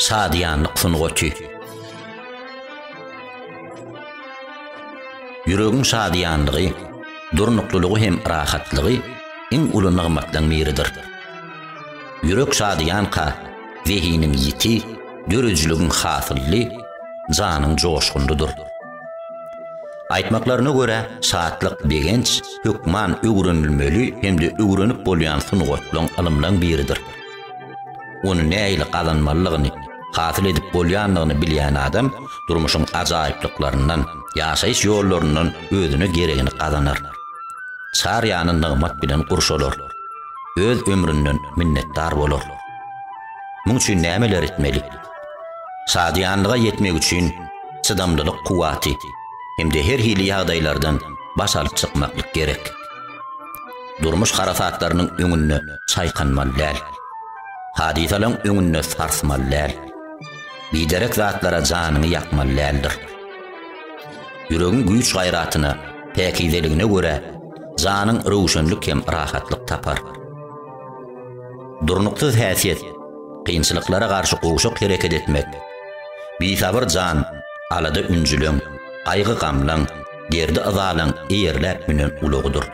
Şadyýanlyk sungaty. Ýüregiň şadyýanlygy, durnuklylygy hem rahatlygy iň uly nygmatlaryň biridir. Ýürek şadyýanka, zehiniň ýiti, döredijiligiň hasylly, janyň joşgunlydyr. Aýtmaklaryna görä, şatlyk, begenç, hökman öwrenilmeli hem-de öwrenip bolýan sungatlaryň, ylymlaryň biridir. Ony nähili gazanmalydygyny, hasyl edip bolýandygyny bilýän adam durmuşyň ajaýyplyklaryndan, ýaşaýyş ýollaryndan özüne geregini gazanar. Çar ýany nygmat bilen gurşalar. Öz ömründen minnetdar bolar. Muň üçin nämeler etmeli? Şadyýanlyga ýetmek üçin çydamlylyk kuwwaty hem-de her hili ýagdaýlardan baş alyp çykmaklyk gerek. Durmuş harasatlarynyň öňünde çaýkanmaly däl. Hadysalaryň öňünde sarsmaly däl. Biderek zatlara janyňy ýakmaly däldir. Ýüregiň güýç-gaýratyna, päkizeligine görä, janyň röwşenlik hem rahatlyk tapar. Durnuksyz häsiýet, kynçylyklara garşy gowşak hereket etmek, bisabyr jan, alada-ünjüliň, gaýgy-gamlaň, derdi-yzalyň eýerläp münen ulagydyr.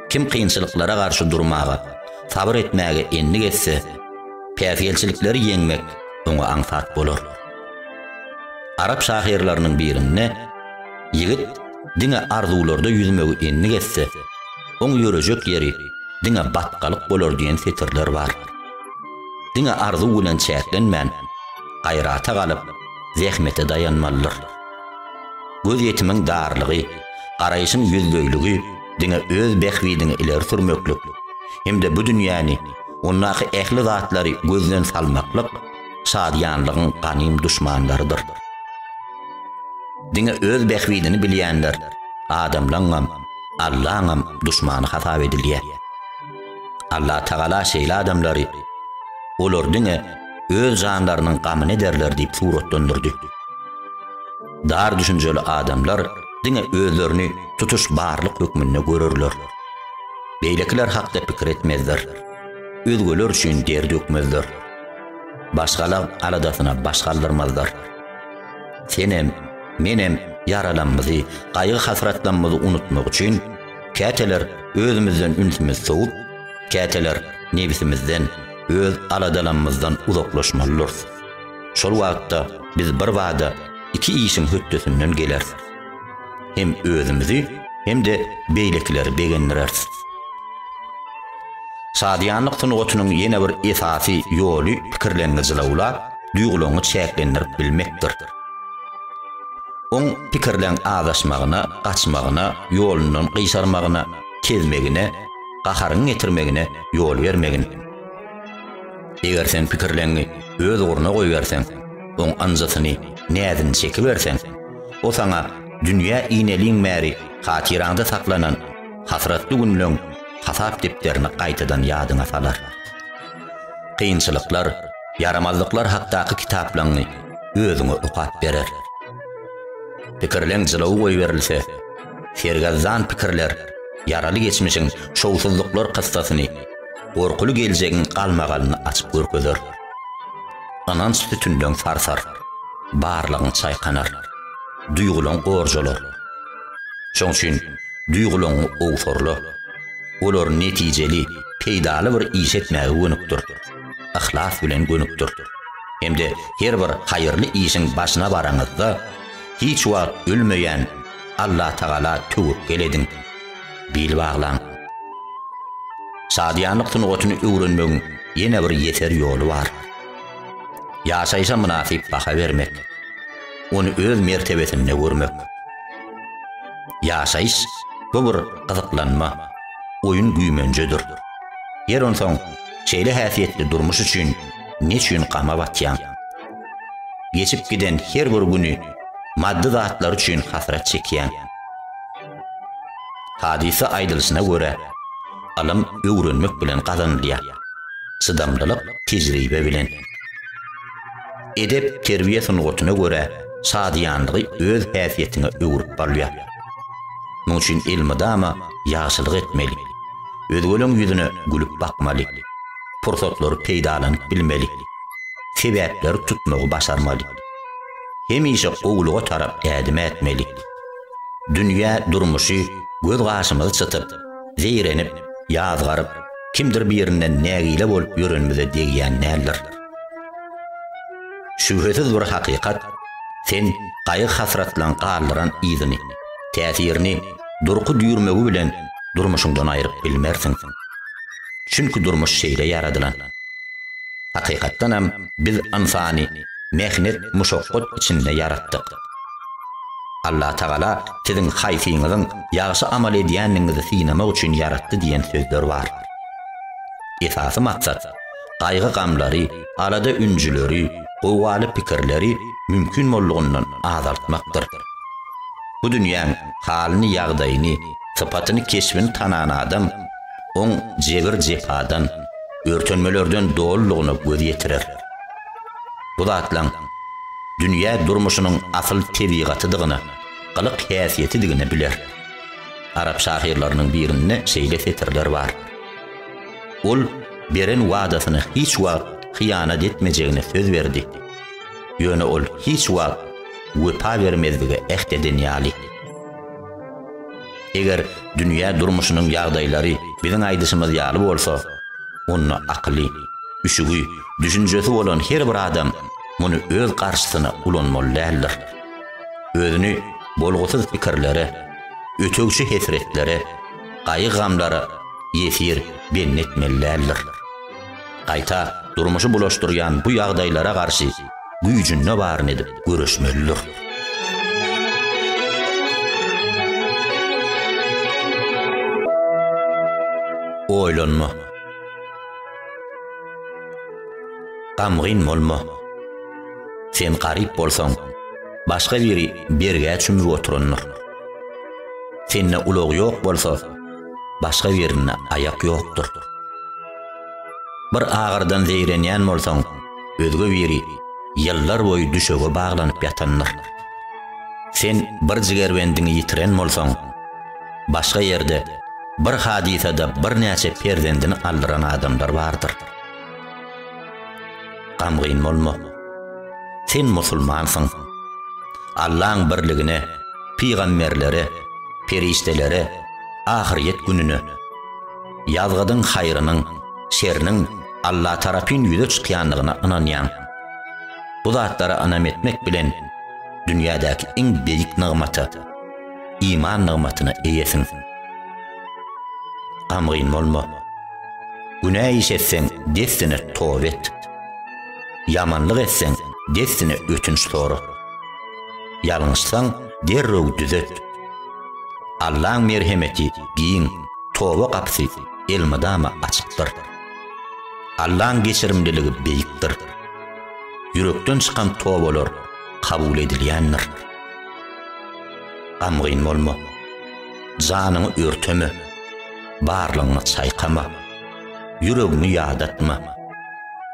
Kim kynçylyklara garşy durmaga, sabyr etmäge endik etse, päsgelçilikleri ýeňmek oňa aňsat bolar. Arap şahyrlarynyň birinde, Ýigit diňe arzuwlarda ýüzmegi endik etse, Oň ýörejek ýeri diňe batgalyk bolar diýen setirler bar. Diňe arzuw bilen çäklenmän, gaýrata galyp, zähmete daýanmalydyr. Gözýetimiň darlygy, garaýşyň ýüzleýligi diňe öz bähbidiňi ileri sürmeklik hem-de bu dünýäni, ondaky ähli zatlary gözden salmaklyk şadyýanlygyň ganym duşmanlarydyr. Diňe öz bähbidini bilýänler adamlaňňam, Allaňam duşmany hasap edilýär. Allatagala şeýle adamlary Olar diňe öz janlarynyň gamyny ederler diýip suratlandyrdy. Dar düşünjeli adamlar diňe özlerini tutuş barlyk hökmünde görerler. Beýlekiler hakda pikir etmezler. Özgeler üçin der dökmezler. Başgalar aladasyna baş galdyrmazlar. Senem, menem ýaralamyzy, gaýgy-hasratlamyzy unutmak üçin, käteler özümizden ünsümizi sowup, käteler nebisimizden, öz aladalamymyzdan uzaklaşmalydyrys. Şol wagtda biz birbada iki işiň hötdesinden geleris. hem özümizi hem-de beýlekileri begendireris. Şadyýanlyk sungatynyň ýene bir esasy ýoly pikirleňňi jylawlap, duýgulaňňy çäklendirip bilmekdir. Oň pikirleň azaşmagyna, gaçmagyna, ýolundan gyşarmagyna, kezmegine, gaharyňy getirmegine ýol bermegin. Eger sen pikirleňňi öz ugruna goýberseň, oň ynjysyny, näzini çekiberseň, O saňa dünýä ineliň bäri hatyraňda saklanan hasratly günleň hasap depderini gaýtadan ýadyňa salar. Kynçylyklar, ýaramazlyklar hakdaky kitaplaňy özüňe okap berer. Pikirleň jylawy goýberilse, sergezdan pikirler ýaraly geçmişiň şowsuzlyklar kyssasyny, gorkuly geljegiň galmagalyny açyp görkezer. Ynanç sütünleň sarsar, barlygyň çaýkanar, duýgulaň gorjalar. Şoň üçin duýgulaňy owsurla, olary netijeli, peýdaly bir iş etmäge gönükdir, yhlas bilen gönükdir. Hem-de her bir haýyrly işiň başyna baraňyzda, hiç wagt ölmeýän Allatagala töwekgel ediň. bil baglaň. Şadyýanlyk sungatyny öwrenmegiň ýene bir ýeser ýoly bar. Ýaşaýşa mynasyp baha bermek. Ony öz mertebesinde görmek. Ýaşaýyş, bu bir gyzyklanma, oýun-güýmenjedir. Ýer onsoň, şeýle häsiýetli durmuş üçin ne üçin gama batýaň? Geçip giden her bir güni maddy zatlar üçin hasrat çekýäň. Hadysa aýdylyşyna görä, ylym öwrenmek bilen gazanylýar, çydamlylyk tejribe bilen. Edep-terbiýe sungatyna görä, şadyýanlygy öz häsiýetiňe öwrüp bolýar. Munuň üçin elmydama ýagşylyk etmeli, özgeleň ýüzüne gülüp bakmaly, pursatlary peýdalanyp bilmeli, sebäpleri tutmagy başarmaly. Hemişe gowulyga tarap ädim ätmeli. Dünýä durmuşy göz gaşymyzy çytyp, zeýrenip, ýazgaryp, kimdir birinden nägile bolup ýörenimize degýän däldir. Şübhesiz bir hakykat, sen gaýgy-hasratlaň galdyran yzyny, täsirini, durky-düýrmegi bilen durmuşyňdan aýryp bilmersiň. Çünki durmuş şeýle ýaradylan. Hakykatdanam biz ynsany mähnet-muşakgat içinde ýaratdyk. Allatagala siziň haýsyňyzyň ýagşy amal edýändigiňizi synamak üçin ýaratdy diýen sözler bar. Esasy maksat, gaýgy-gamlary, alada-ünjüleri, gowgaly pikirleri mümkin boldugyndan azaltmakdyr. Bu dünýäň halyny-ýagdaýyny, sypatyny-keşbini tanan adam oň jebir-jepadan, örtenmelerden dolulygyna göz ýetirer. Bu zatlaň dünýä durmuşynyň asyl tebigatydygyny, gylyk-häsiýetidigini biler. Arap şahyrlarynyň birinde şeýle setirler bar, Ol beren wadasyny hiç wagt hyýanat etmejegine söz berdi. Ýöne ol hiç wagt wepa bermezlige äht eden ýaly. Eger dünýä durmuşynyň ýagdaýlary biziň aýdyşymyz ýaly bolsa, onda akyly, üşügi, düşünjesi bolan her bir adam muny öz garşysyna ulanmaly däldir. Özüni bolgusyz pikirlere, ötegçi hesretlere, gaýgy-gamlara ýesir bendi etmeli däldir. Gaýta durmuşy bulaşdyrýan bu ýagdaýlara garşy güýjünde baryny edip göreşmelidir. Oýlanma. Gamgyn bolma. Sen garyp bolsaň, başga biri bergä çümüp oturandyr. Sende ulag ýok bolsa, başga birinde aýak ýokdur. Bir agyrdan zeýrenýän bolsaň, özge biri ýyllar boýy düşege baglanyp ýatandyr. Sen bir jigerbendiňi ýitiren bolsaň, başga ýerde bir hadysada birnäçe perzendini aldyran adamlar bardyr. Gamgyn bolma. Sen musulmansyň. Allaň birligine, pygamberlere, perişdelere, ahyrýet gününe, Ýazgydyň haýrynyň, şeriniň Alla tarapyn ýüze çykýandygyna ynanýaň. Bu zatlara ynam etmek bilen, dünýädäki iň beýik nygmata, iman nygmatyna eýesiň. Gamgyn bolma. Günä iş etseň, dessine toba et. Ýamanlyk etseň, dessine ötünç sora. Ýalňyşsaň, derrew düzet. Allaň merhemeti giň, toba gapysy elmydama açykdyr. Allaň geçirimliligi beýikdir. Ýürekden çykan tobalar kabul edilýändir. Gamgyn bolma. Janyňy örteme. Barlygyňy çaýkama. Ýüregiňi ýadatma.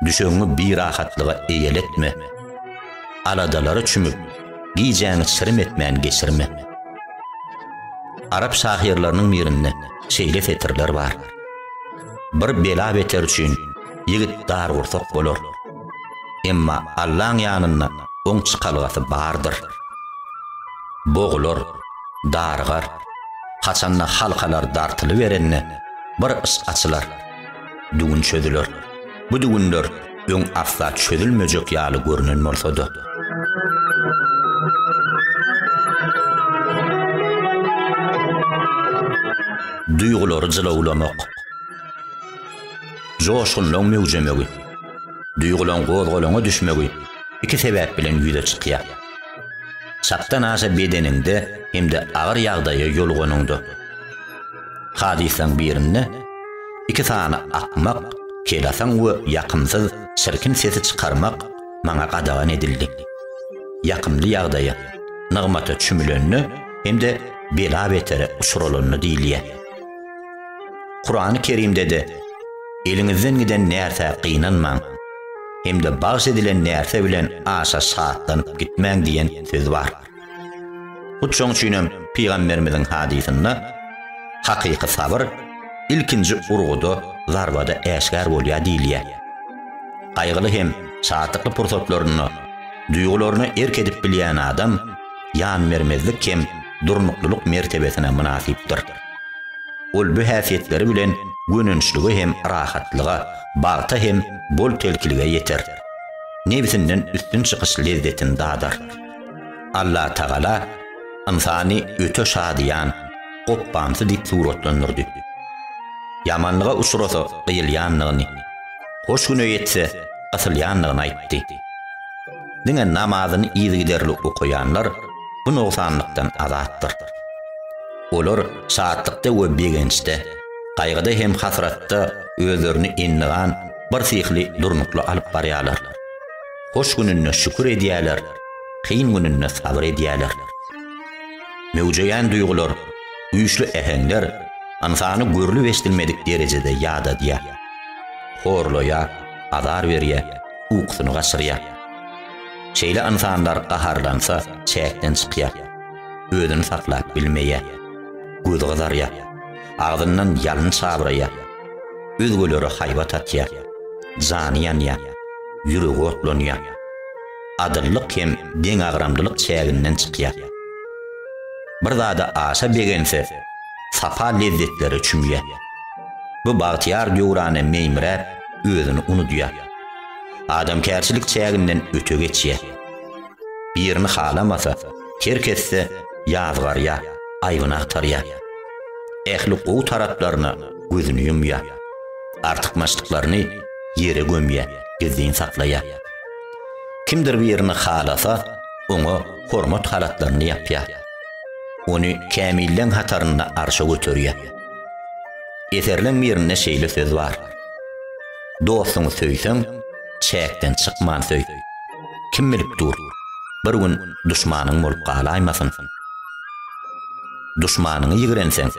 Düşegiňi birahatlyga eýeletme. Aladalara çümüp, gijäňi çirim etmän geçirme. Arap şahyrlarynyň birinde şeýle setirler bar. Bir bela-beter üçin ýigit dargursak bolar. Emma Allaň ýanynda oň çykalgasy bardyr. Bogular, dargar. Haçanda halkalar dartylyberende bir yş açylar. düwün çözüler. Bu düwünler öň asla çözülmejek ýaly görnen bolsa-da. Duýgulary jylawlamak. Joşgunlaň möwjemegi. Duýgulaň gozgalaňa düşmegi iki sebäp bilen ýüze çykýar. Çakdan aşa bedeniňde hem-de agyr ýagdaýa ýoluganyňda. Hadyslaň birinde iki sany akmak, kelasaň we ýakymsyz, çirkin sesi çykarmak maňa gadagan edildi. Ýakymly ýagdaýa, nygmata çümülende hem-de bela-betere uçralanda diýilýär. Kurany Kerimde-de, Eliňizden giden närsä gynanmaň hem-de bagş edilen närse bilen aşa şatlanyp gitmäň diýen söz bar. Hut şoň üçin hem pygamberimiziň hadysynda, Hakyky sabyr ilkinji urguda, zarbada äşgär bolýar diýilýär. Gaýgyly hem şatlykly pursatlarynda duýgularyna erk edip bilýän adam ýanbermezlik hem durnuklylyk mertebesine mynasypdyr. Ol bu häsiýetleri bilen gönençlige hem rahatlyga, bagta hem bol-telkilige ýeter. Nebsinden üstün çykyş lezzetini dadar. Allatagala ynsany öte şadyýan, gopbamsy diýip suratlandyrdy. Ýamanlyga uçrasa gyýylýanlygyny, hoş güne ýetse gysylýanlygyny aýtdy. Diňe namazyny yzygiderli okaýanlar bu nogsanlykdan azatdyr. Olar şatlykda we begençde, gaýgyda hem hasratda özlerini endigan birsyhly durnukly alyp barýarlar. Hoş gününde şükür edýärler, kyn gününde sabyr edýärler. Möwjeýän duýgular, güýçli äheňler ynsany görlüp-eşdilmedik derejede ýadadýar. Horlaýar, azar berýär, ukusyny gaçyrýar. Şeýle ynsanlar gaharlansa, çäkden çykýar, özüni saklap bilmeýär, gözi gyzarýar, agzyndan ýalyn çabraýar. Özgelere haýbat atýar. Jany ýanýar. Ýüregi otlanýar. Adyllyk hem deňagramlylyk çäginden çykýar. Bir zada aşa begense, sapa lezzetlere çümýär. Bu bagtyýar döwrana meýmiräp, özüni unudýar. Adamkärçilik çäginden öte geçýär. Birini halamasa, her kesse ýazgarýa, aýbyny agtarýa. Ähli gowy taraplaryna gözüni ýumýa. Artykmaçlyklaryny ýere gömýä, gizlin saklaýa. Kimdir birini halasa, oňa hormat halatlaryny ýapýa. Ony kämilleň hatarynda arşa göterýä. Eserleň birinde şeýle söz bar, Dostuňy söýseň, çäkden çykman söý. Kim bilip dur, bir gün duşmanyň bolup galaýmasyn. Duşmanyňy ýigrenseň,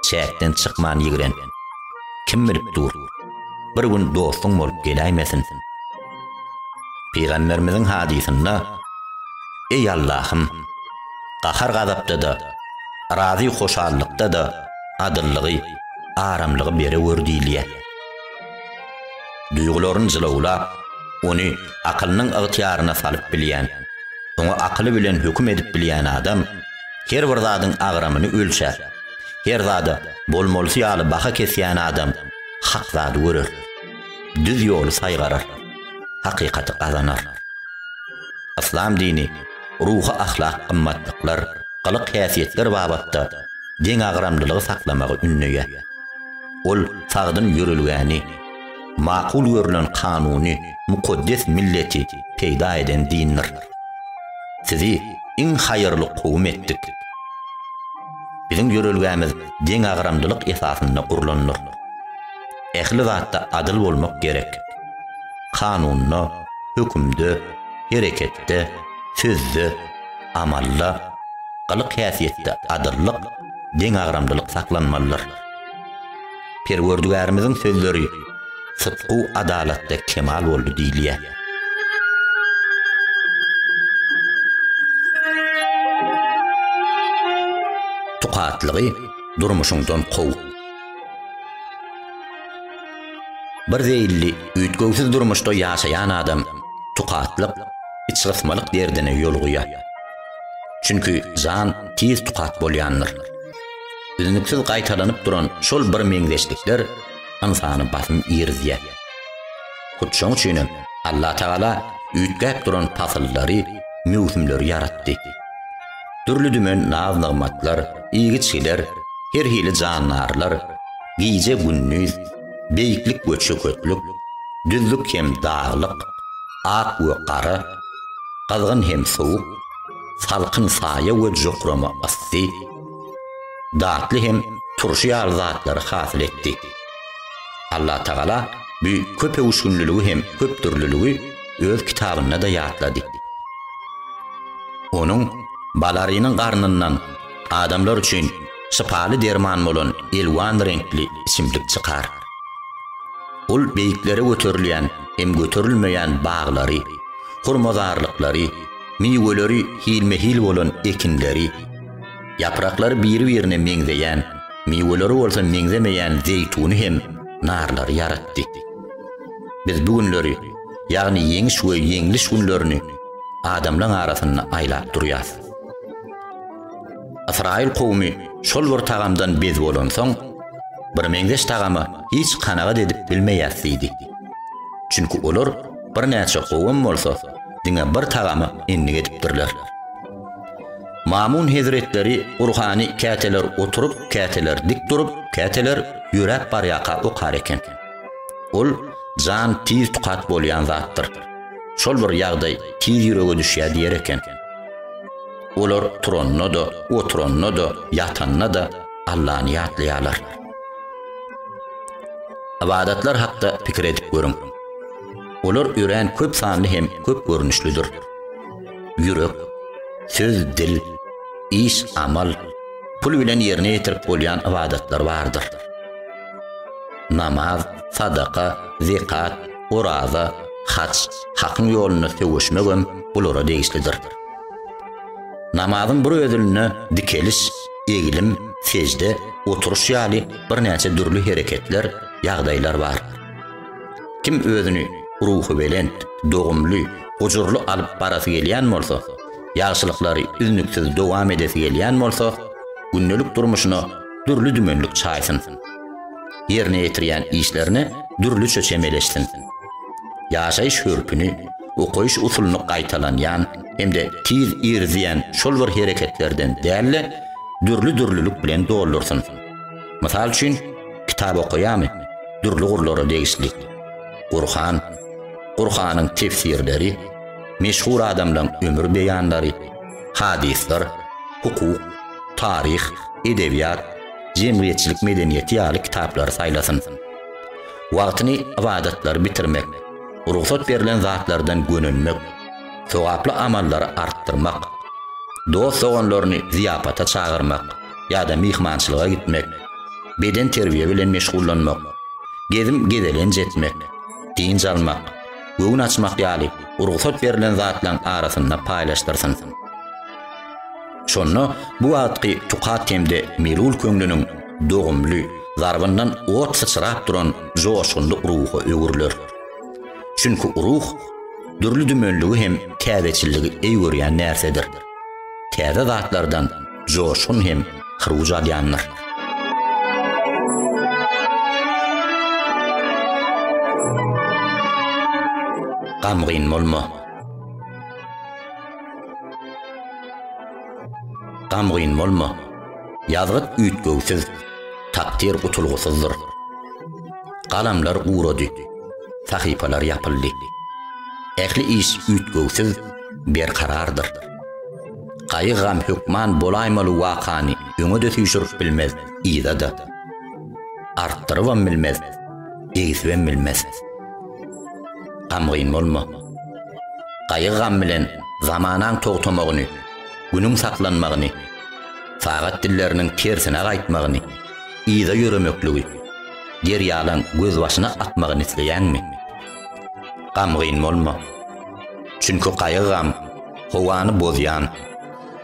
çäkden çykman ýigren. Kim bilip dur, bir gün dostuň bolup geläýmesin. Pygamberimiziň hadysynda, Eý Allahym, gahar-gazapda-da, razy-hoşallykda-da adyllygy, aramlygy berewür diýilýär. duýgularyny jylawlap, ony akylynyň ygtyýaryna salyp bilýän, oňa akyly bilen höküm edip bilýän adam her bir zadyň agramyny ölçär, her zada bolmalysy ýaly baha kesýän adam hak zady görer, düz ýoly saýgarar, hakykaty gazanar. Yslam dini ruhy-ahlak gymmatlyklar, gylyk-häsiýetler babatda deňagramlylygy saklamagy ündeýär. Ol sagdyn ýörelgäni, makul görülen kanuny mukaddes milleti peýda eden dindir. Sizi iň haýyrly kowum etdik. Biziň ýörelgämiz deňagramlylyk esasynda gurlandyr. Ähli zatda adyl bolmak gerek. Kanunda, hökümde, hereketde, sözde, amalda, gylyk-häsiýetde adyllyk, deňagramlylyk saklanmalydyr. Perwerdigärimiziň sözleri, Sytgu adalatda kemal boldy diýilýär. Tukatlygy durmuşyňdan kow. Bir zeýilli, üýtgewsiz durmuşda ýaşaýan adam tukatlyk, içgysmalyk derdine ýolugyýar. Çünki jan tiz tukat bolýandyr. Üznüksiz gaýtalanyp duran şol birmeňzeşlikler ynsany basym girizýär. Hut şoň üçin hem Allatagala üýtgäp duran pasyllary, möwsümleri ýaratdy. Dürli-dümen naz-nygmatlar, iýgiçgiler, her hili jandarlar, gije-gündiz, beýiklik we çöketlik, düzlük hem daglyk, ak we gara, gyzgyn hem sowuk, salkyn saýa we jokrama yssy, datly hem turşy ýaly zatlary hasyl etdi. Allatagala bu köpöwüşginliligi hem köpdürliligi öz kitabynda-da ýatlady. Onuň Balarynyň garnyndan adamlar üçin şypaly derman bolan elwan reňkli içimlik çykar. Ol beýiklere göterilýän hem göterilmeýän baglary, hurmazarlyklary, miweleri hilme-hil bolan ekinleri, Ýapraklary biri-birine meňzeýän, miweleri bolsa meňzemeýän zeýtuny hem narlary ýaratdy. Biz bu günleri, ýagny ýeňiş we ýeňliş günlerini adamlaň arasynda aýlap durýas. Ysraýyl kowumy şol bir tagamdan bez bolansoň, Birmeňzeş tagama hiç kanagat edip bilmeýäs diýdi. Çünki olar birnäçe kowum bolsa, diňe bir tagama endik edipdirler. Mamun hezretleri Gurhany käteler oturyp, käteler dik durup, käteler ýöräp barýaka okar eken. Ol jan tiz tukat bolýan zatdyr. Şol bir ýagdaý tiz ýürege düşýär diýer eken. Olar turanda-da, oturanda-da, ýatanda-da Allany ýatlaýarlar. Ybadatlar hakda pikir edip görüň. Olar örän köp sanly hem köp görnüşlidir. ýürek, söz, dil, iş, amal, pul bilen ýerine ýetirip bolýan ybadatlar bardyr. Namaz, sadaka, zekat, oraza, haç, hakyň ýolunda söweşmek hem bulara degişlidir. Namazyň bir özünde dikeliş, eglim, sejde, oturyş ýaly birnäçe dürli hereketler, ýagdaýlar bar. Kim özüni ruhubelent, dogumly, gujurly alyp barasy gelýän bolsa, ýagşylyklary üznüksiz dowam edesi gelýän bolsa, gündelik durmuşyna dürli-dümenlik çaýsyn. Ýerine ýetirýän işlerine dürlüçe çemeleşsin. Ýaşaýyş hörpüni, okaýyş usulyny gaýtalanýan hem-de tiz irizýän şol bir hereketlerden däl-de, dürli-dürlülik bilen doldursyn. Mysal üçin, kitap okaýamy? Dürli gurlara degişli. Gurhan, Gurhanyň tefsirleri, meşhur adamlaryň ömür beýanlary, hadyslar, hukuk, taryh, edebiýat, jemgyýetçilik medeniýeti ýaly kitaplary saýlasyn. Wagtyny ybadatlary bitirmek, rugsat berlen zatlardan gönenmek, sogaply amallary artdyrmak, dost-doganlaryny zyýapata çagyrmak, ýa-da myhmançylyga gitmek, bedenterbiýe bilen meşgullanmak, gezim-gezelenç etmek, dynç almak, göwün açmak ýaly rugsat berlen zatlaryň arasynda paýlaşdyrsyn. Şonda bu wagtky tukat hem-de melul köňlüniň dogumly zarbyndan ot syçrap duran joşgunly ruha öwrüler. Çünki ruh dürli-dümenligi hem täzeçilligi eý görýän närsedir. Täze zatlardan joşgun hem hyruj alýandyr. Gamgyn bolma. Gamgyn bolma. Ýazgyt üýtgewsiz, takdyr gutulgysyzdyr. Galamlar gurady. Sahypalar ýapyldy. Ähli iş üýtgewsiz, berkarardyr. Gaýygam hökman bolaýmaly wakany öňe-de süýşürip bilmez, yza-da. Artdyrybam bilmez, egsibem bilmez. Gamgyn bolma. Gaýygam bilen zamanaň togtamagyny, günüň saklanmagyny, sagat dilleriniň tersine gaýtmagyny, yza ýöremekligi, derýalaň gözbaşyna akmagyny isleýäňmi? Gamgyn bolma. Çünki gaýygam Howany bozýan,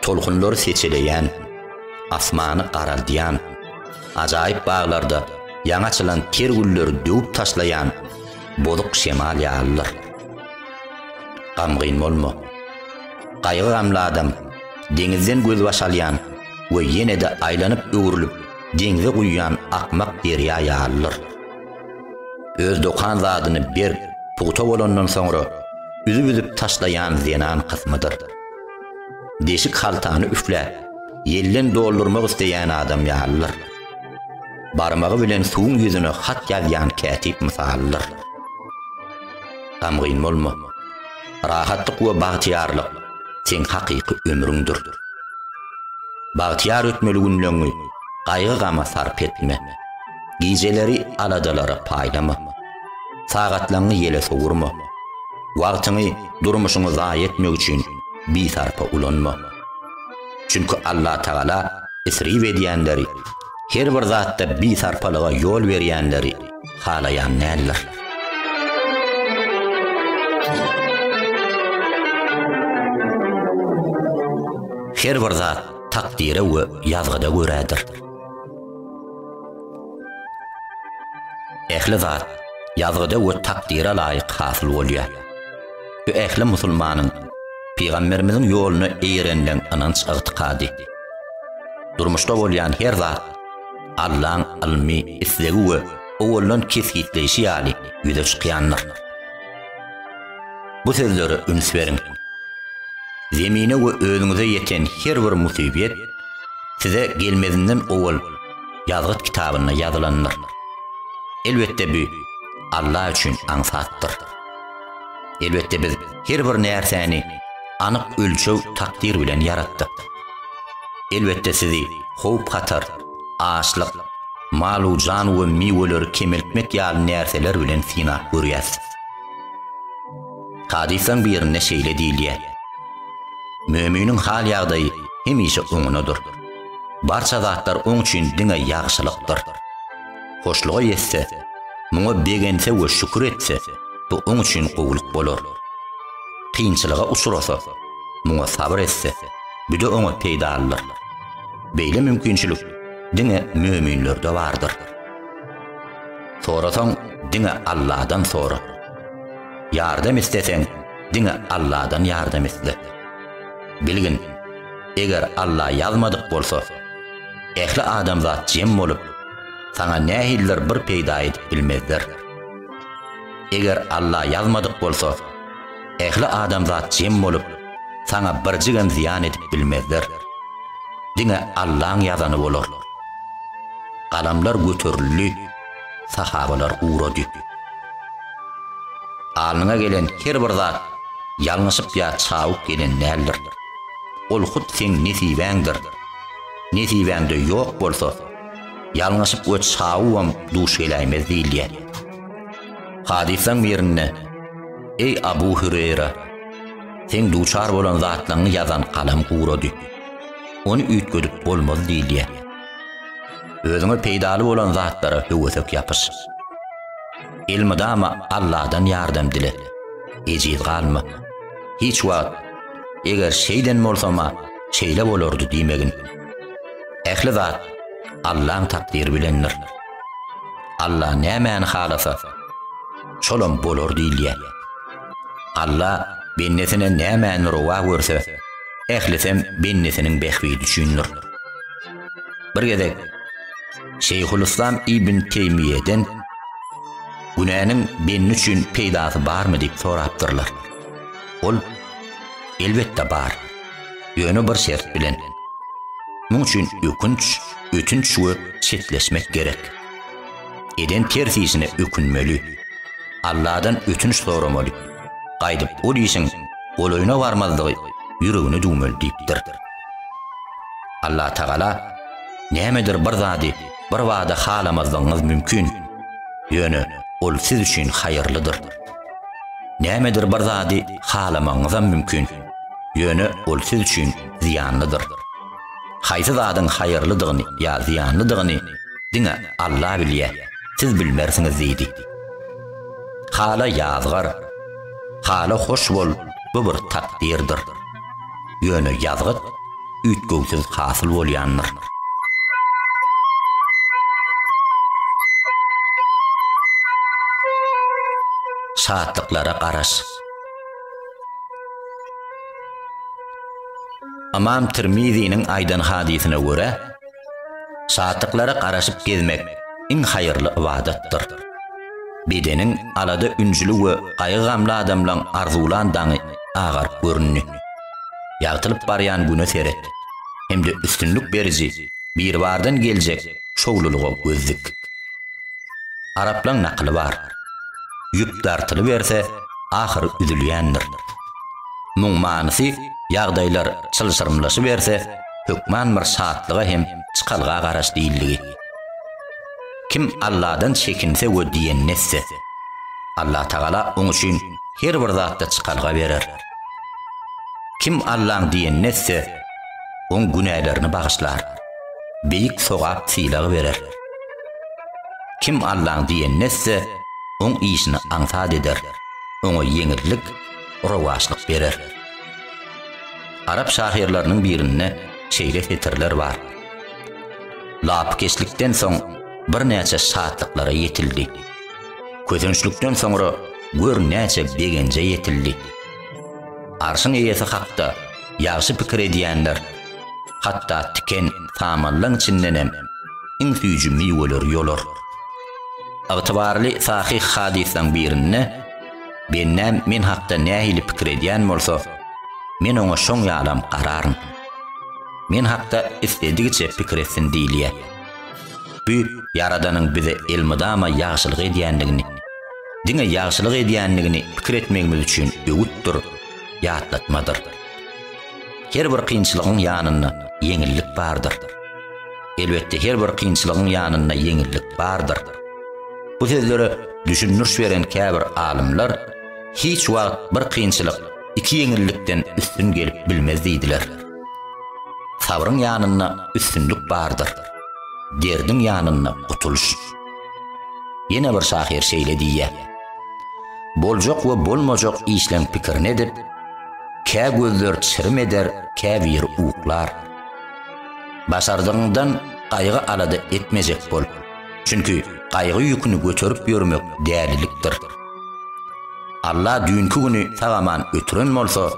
tolkunlary seçeleýän, asmany garaldýan, ajaýyp baglarda ýaňy açylan ter gülleri döwüp taşlaýan bozuk şemal ýalydyr. Gamgyn bolma. Gaýgy-gamly adam deňizden gözbaş alýan we ýene-de aýlanyp-öwrülip deňze guýýan akmak derýa ýalydyr. Öz dokan zadyny berk, pugta bolandan soňra üzüp-üzüp taşlaýan zenan kysmydyr. Deşik haltany üfläp, ýelden doldurmak isleýän adam ýalydyr. Barmagy bilen suwuň ýüzüne hat ýazýan kätip mysalydyr. Gamgyn bolma. Rahatlyk we bagtyýarlyk seň hakyky ömrüňdir. Bagtyýar ötmeli günleňňi gaýgy-gama sarp etme. Gijeleri aladalara paýlama. Sagatlaňňy ýele sowurma. Wagtyňy durmuşyňy zaýa etmek üçin bisarpa ulanma. Çünki Allatagala isrif edýänleri, her bir zatda bisarpalyga ýol berýänleri halaýan däldir. Her bir zat takdyra we ýazgyda görädir. Ähli zat ýazgyda we takdyra laýyk hasyl bolýar. Bu ähli musulmanyň Pygamberimiziň ýoluna eýerenleň ynanç ygtykady. Durmuşda bolýan her zat Allaň ylmy islegi we owaldan kesgitleýşi ýaly ýüze çykýandyr. Bu sözlere üns beriň. Zemine we özüňize ýeten her bir musibet size gelmezinden owal ýazgyt kitabynda ýazylandyr. Elbetde bu Alla üçin aňsatdyr. Elbetde biz her bir närsäni anyk ölçeg takdyr bilen ýaratdyk. Elbetde sizi howp-hatar, açlyk, malu jan we miweleri kemeltmek ýaly närseler bilen synap görýäs. Hadyslaň birinde şeýle diýilýär, Möminiň hal-ýagdaýy hemişe oňunadyr. Barça zatlar oň üçin diňe ýagşylykdyr. Hoşluga ýetse, muňa begense we şükür etse, bu oň üçin gowulyk bolar. Kynçylyga uçrasa, muňa sabyr etse, bu-da oňa peýdalydyr. Beýle mümkinçilik diňe möminlerde bardyr. Sorasaň, diňe Alladan sora. Ýardam isleseň, diňe Alladan ýardam isle. Bilgin, eger Alla ýazmadyk bolsa, ähli adamzat jem bolup, saňa nähilidir bir peýda edip bilmezler. Eger Alla ýazmadyk bolsa, Ähli adamzat jem bolup, saňa birjigem zyýan edip bilmezler. Diňe Allaň ýazany bolar. Galamlar göterildi, sahabalar ugrady. Alnyňa gelen her bir zat ýalňyşyp ýa çabuk gelen däldir. Ol hut seň nesibäňdir. Nesibäňde ýok bolsa, ýalňyşyp we çabugam duş geläýmez diýilýär. Hadyslaň birinde, Eý Abu Hüreýra, seň duçar bolan zatlaňňy ýazan galam gurady. Ony üýtgedip bolmaz diýilýär. Özüňe peýdaly bolan zatlara höwesek ýapyş. Elmydama Alladan ýardam dile. Ejiz galma. Hiç wagt, Eger şeýden bolsama, şeýle bolardy diýmegin. Ähli zat Allaň takdyry bilendir. Alla nämäni halasa, şolam bolar diýilýär. Alla bendesine nämäni rowa görse, ählisem bendesiniň bähbidi üçindir. Bir gezek Şeýhulyslam ibn Teýmiýeden günäniň bendi üçin peýdasy barmy diýip sorapdyrlar. Ol, Elbetde bar. Ýöne bir şert bilen. Muň üçin ökünç, ötünç we çetleşmek gerek. Eden ters işine ökünmeli. Alladan ötünç soramaly. Gaýdyp ol işiň golaýyna barmazlygy ýüregine düwmeli diýipdir. Allah Tagala nämedir bir zady bir bada halamazlygyňyz mümkin. Ýöne ol siz üçin haýyrlydyr. Nämedir bir zady halamagyňyzam mümkin, ýöne ol siz üçin zyýanlydyr. Haýsy zadyň haýyrlydygyny ýa zyýanlydygyny diňe Alla bilýär, siz bilmersiňiz diýdi. Hala ýazgar, hala hoş bol, bu bir takdyrdyr. Ýöne ýazgyt üýtgewsiz hasyl bolýandyr. Şatlyklara garaş. Ymam Tirmiziniň aýdan hadysyna görä, Şatlyklara garaşyp gezmek iň haýyrly ybadatdyr. Bedeniň alada-ünjüli we gaýgy-gamly adamlaň arzuwlan daňy agaryp göründi. Ýagtylyp barýan Güne seret hem-de üstünlik beriji Biribardan geljek şowlulyga göz dik. Araplaň nakyly bar, Ýüp dartylyberse, ahyry üzülýändir. Muň manysy, ýagdaýlar çylşyrymlaşyberse, hökman bir şatlyga hem çykalga garaş diýildigi. Kim Alladan çekinse we diýenini etse, Allatagala oň üçin her bir zatda çykalga berer. Kim Allaň diýenini etse, oň günälerini bagyşlar, beýik sogap sylagy berer. Kim Allaň diýenini etse, oň işini aňsat eder, oňa ýeňillik, rowaçlyk berer. Arap şahyrlarynyň birinde şeýle setirler bar, Lapykeçlikden soň birnäçe şatlyklara ýetildi. Kösençlikden soňra gör näçe begenje ýetildi. Arşyň eýesi hakda ýagşy pikir edýänler, hatda tiken samanlaň içindenem iň süýji miweleri ýolar. Ygtybarly sahyh hadyslaň birinde, Bennäm men hakda nähili pikir edýän bolsa, men oňa şoň ýalam gararyn. Men hakda isledigiçe pikir etsin diýilýär. Bu Ýaradanyň bize elmydama ýagşylyk edýändigini, diňe ýagşylyk edýändigini pikir etmegimiz üçin öwütdir, ýatlatmadyr. Her bir kynçylygyň ýanynda ýeňillik bardyr. Elbetde her bir kynçylygyň ýanynda ýeňillik bardyr. Bu sözlere düşündiriş beren käbir alymlar hiç wagt bir kynçylyk iki ýeňillikden üstün gelip bilmez diýdiler. Sabryň ýanynda üstünlik bardyr. Derdiň ýanynda gutulyş. Ýene bir şahyr şeýle diýýär. Boljak we bolmajak işleň pikirini edip, kä gözler çirim eder, kä bir uklar. Başardygyňdan gaýgy-alada etmejek bol. Çünki gaýgy ýüküni göterip ýörmek dälilikdir. Alla düýnki güni sag-aman ötüren bolsa,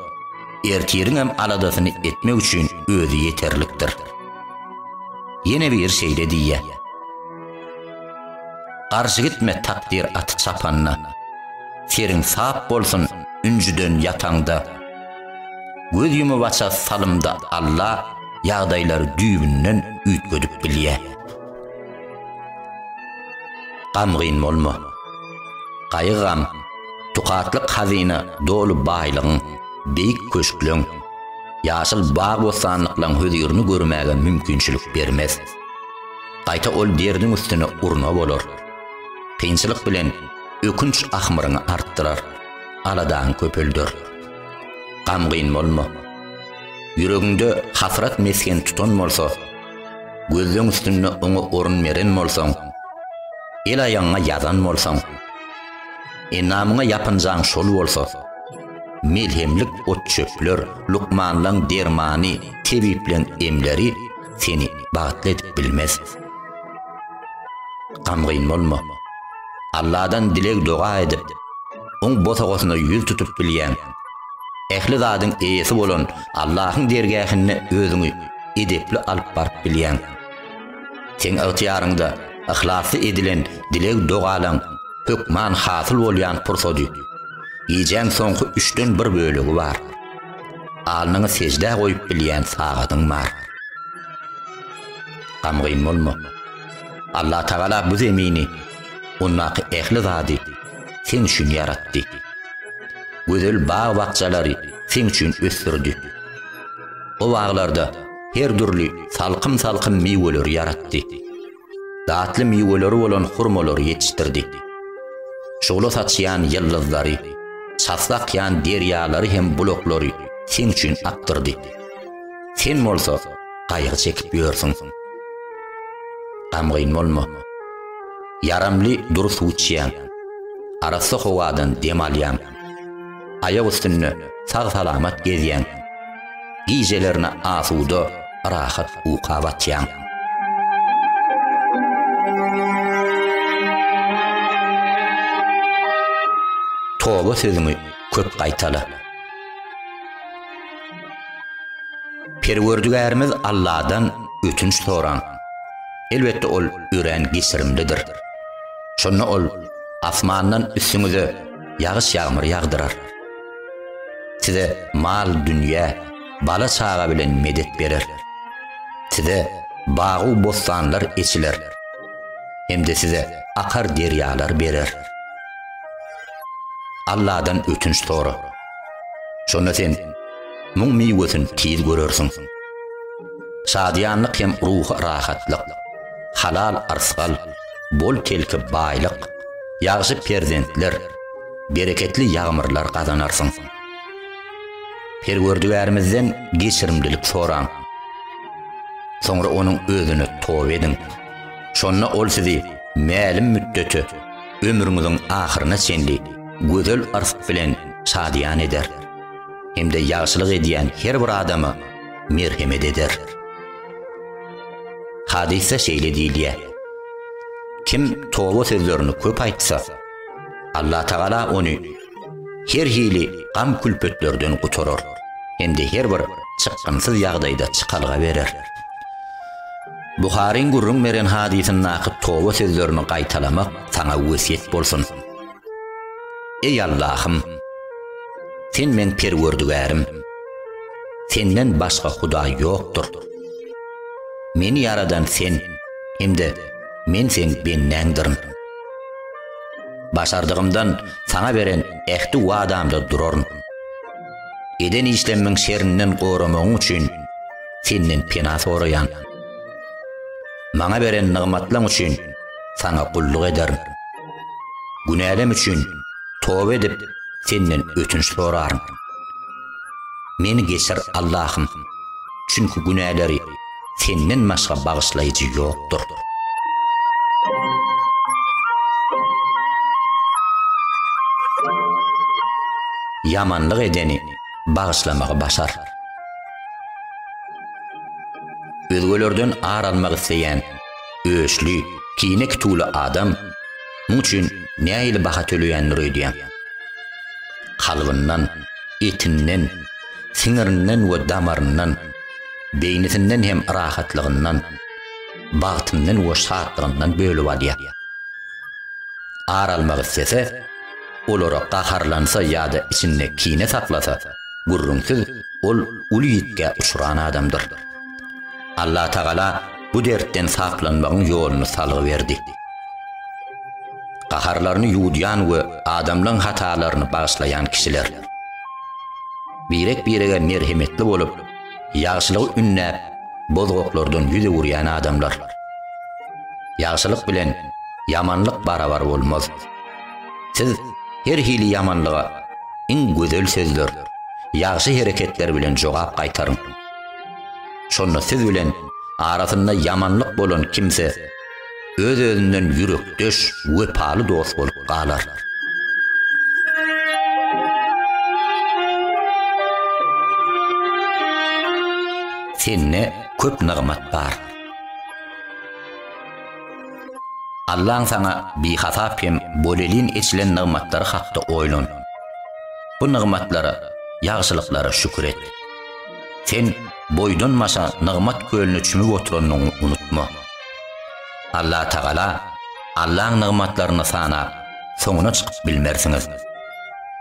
ertiriňem aladasyny etmek üçin Özi ýeterlikdir. Ýene biri şeýle diýýär, Garşy gitme takdyr aty çapanda. Seriň sap bolsun ünjüden ýataňda. Göz ýumybaça salymda Alla ýagdaýlary düýbünden üýtgedip bilýär. Gamgyn bolma. Gaýgy-gam, tukatlyk hazyna doly baýlygyň, beýik köşkleň, ýaşyl bag-bossanlyklaryň hözirini görmäge mümkinçilik bermez. Gaýta ol derdiň üstüne urna bolar. Kynçylyk bilen ökünç ahmyryňy artdyrar. aladaň köpelder. Gamgyn bolma. Ýüregiňde hasrat mesgen tutan bolsa, gözleň üstünde oňa orun beren bolsaň, el aýagyňa ýazan bolsaň, enamyňa ýapynjaň şol bolsa, melhemlik ot-çöpler, lukmanlaň dermany, tebiplaň emleri seni bagtly edip bilmez. Gamgyn bolma. Alladan dileg-doga edip, Oň bosagasyna ýüz tutup bilýäň. Ähli zadyň eýesi bolan Allahyň dergähine özüňi edepli alyp baryp bilýäň. Seň ygtyýaryňda yhlasly edilen dileg-dogalaň hökman hasyl bolýan pursady. Gijäň soňky üçden bir bölegi bar. Alnyňy seždä goýup bilýän sagadyň bar. Gamgyn bolma. Allah Tagala bu zemini, ondaky ähli zady seň üçin ýaratdy. Gözel bag-bakjalary seň üçin ösdürdi. O baglarda her dürli salkym-salkym miweleri ýaratdy. Datly miweleri bolan hurmalary ýetişdirdi. Şugla saçýan ýyldyzlary, çasly akýan derýalary hem bulaklary seň üçin akdyrdy. Sen bolsa gaýgy çekip ýörsüň. Gamgyn bolma. Ýaramly dury suw içýäň. Arassa howadan dem alýaň. Aýak üstünde sag-salamat gezýäň. Gijelerine asuda, rahat uka batýaň. Toba sözüňi köp gaýtala. Perwerdigärimiz Alladan ötünç soraň. Elbetde ol örän geçirimlidir. Şonda ol asmandan üstüňize ýagyş-ýagmyr ýagdyrar. Size mal-dünýä, bala-çaga bilen medet berer. Size bagy bossanlar eçiler hem-de size akar derýalar berer. Alladan ötünç sora. Şonda sen muň miwesini tiz görersiň. Şadyýanlyk hem ruhy rahatlyk, halal yrsgal, bol-telki baýlyk, ýagşy perzentler, bereketli ýagmyrlar gazanarsyň. Perwerdigärimizden geçirimlilik soraň. Soňra onuň özüne toba ediň. Şonda ol sizi mälim müddete ömrüňiziň ahyryna çenli gözel yrs bilen şadyýan eder hem-de ýagşylyk edýän her bir adama merhemet eder. Hadysda şeýle diýilýär. Kim toba sözlerini köp aýtsa, Allah Tagala ony her hili gam-külpetlerden gutarar hem-de her bir çykgynsyz ýagdaýda çykalga berer. Buharyň gürrüň beren hadysyndaky toba sözlerini gaýtalamak saňa wesýet bolsun. Eý Allahym! Sen meň Perwerdigärim. Senden başga Hudaý ýokdur. Meni ýaradan Sen hem-de men Seň bendäňdirin. Başardygymdan Saňa beren ähti wadamda duraryn. Eden işlemmiň şerinden goramagyň üçin Senden pena soraýan. Maňa beren nygmatlaň üçin saňa gulluk ederin. Günälerim üçin toba edip, senden ötünç soraryn. Meni geçir, Allahym. Çünki günäleri senden başga bagyşlaýjy ýokdur. Ýamanlyk edeni bagyşlamagy başar. Özgelerden ar almak isleýän öçli, kine kituly adam muň üçin nähili baha töleýändir öýdýän. Kalbyndan, etinden, siňirinden we damaryndan, beýnisinden hem rahatlygyndan, bagtyndan we şatlygyndan bölüp alýar. Ar almak islese, olara gaharlansa ýa-da içinde kine saklasa, Gürrüňsiz, ol uly ýitgä uçran adamdyr. Allatagala bu dertden saplanmagyň ýoluny salgy berdi. Gaharlaryny ýuwudýan we adamlaň hatalaryny bagyşlaýan kişiler. Birek-birege merhemetli bolup, ýagşylygy ündäp, bozgaklardan ýüz öwürýän adamlar. Ýagşylyk bilen ýamanlyk barabar bolmaz. Siz her hili ýamanlyga iň gözel sözler, ýagşy hereketler bilen jogap gaýtaryň. Şonda siz bilen arasynda ýamanlyk bolan kimse öz-özünden ýürekdeş, wepaly dost bolup galar. Sende köp nygmat bar. Allaň saňa bihasap hem bolelin eçilen nygmatlary hakda oýlan. Bu nygmatlara, ýagşylyklara şükür et. Sen boýdanmaşa nygmat kölüne çümüp oturanyňy unutma. Allatagala Allaň nygmatlaryny sanap, soňuna çykyp bilmersiňiz.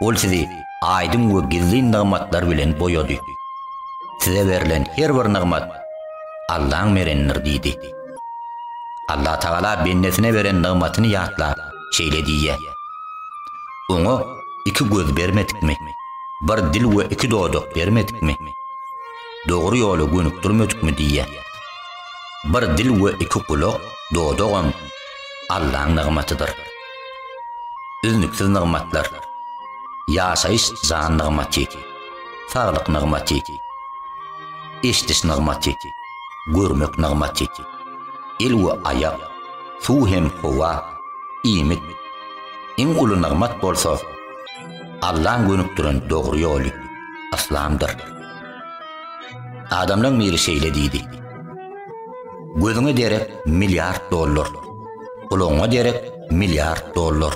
Ol sizi aýdyň we gizlin nygmatlar bilen boýady. Size berlen her bir nygmat Allaň berendir diýdi. Allah Tagala bendesine beren nygmatyny ýatlap, şeýle diýýär, Oňa iki göz bermedikmi? Bir dil we iki dodak bermedikmi? Dogry ýola gönükdirmedikmi diýýär. Bir dil we iki gulak, dodagam Allaň nygmatydyr. Üznüksiz nygmatlar, ýaşaýyş jan nygmaty, saglyk nygmaty. Eşdiş nygmaty, görmek nygmaty. El we aýak, suw hem howa, iýmit. Iň uly nygmat bolsa, Allaň gönükdiren dogry ýoly, yslamdyr. Adamlaň biri şeýle diýdi, Gözüňe derek milliard dollar, gulagyňa derek milliard dollar,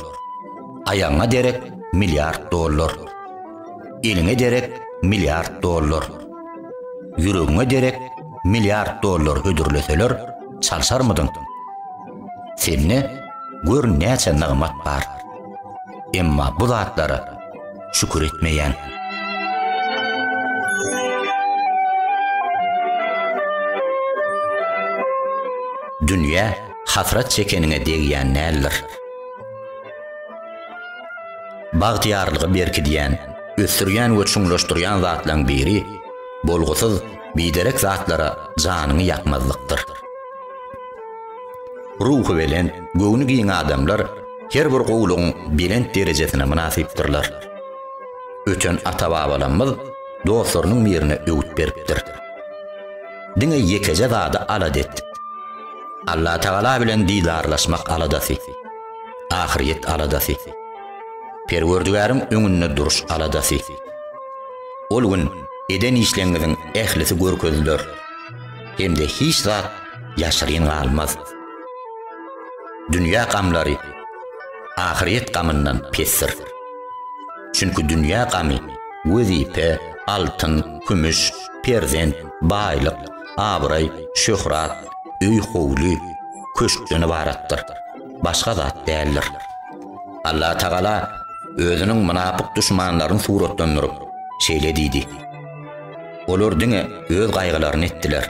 aýagyňa derek milliard dollar. Eliňe derek milliard dollar. Ýüregiňe derek milliard dollar hödürleseler, çalşarmydyň? Sende gör näçe nygmat bar. Emma bu zatlara şükür etmeýäň. Dünýä hasrat çekeniňe degýän däldir. Bagtyýarlygy berkidýän, ösdürýän we çuňlaşdyrýan zatlaryň biri bolgusyz, biderek zatlara janyňy ýakmazlykdyr. Ruhubelent, göwni giň adamlar her bir gowulygyň belent derejesine mynasypdyrlar. Öten ata-babalarymyz dostlarynyň birine öwüt beripdir. Diňe ýekeje zady alada et. Allatagala bilen didarlaşmak aladasy. ahyrýet aladasy. Perwerdigäriň öňünde duruş aladasy. Ol gün eden işleňiziň ählisi görkeziler. Hem-de hiç zat ýaşyryn galmaz. Dünýä gamlary ahyrýet gamyndan pesdir. Çünki dünýä gamy wezipe, altyn, kümüş, perzent, baýlyk, abraý, şöhrat, öý-howly, köşkden ybaratdyr. başga zat däldir. Allah Tagala özüniň mynapyk duşmanlaryny suratlandyryp, şeýle diýdi, Olar diňe öz gaýgylaryny etdiler.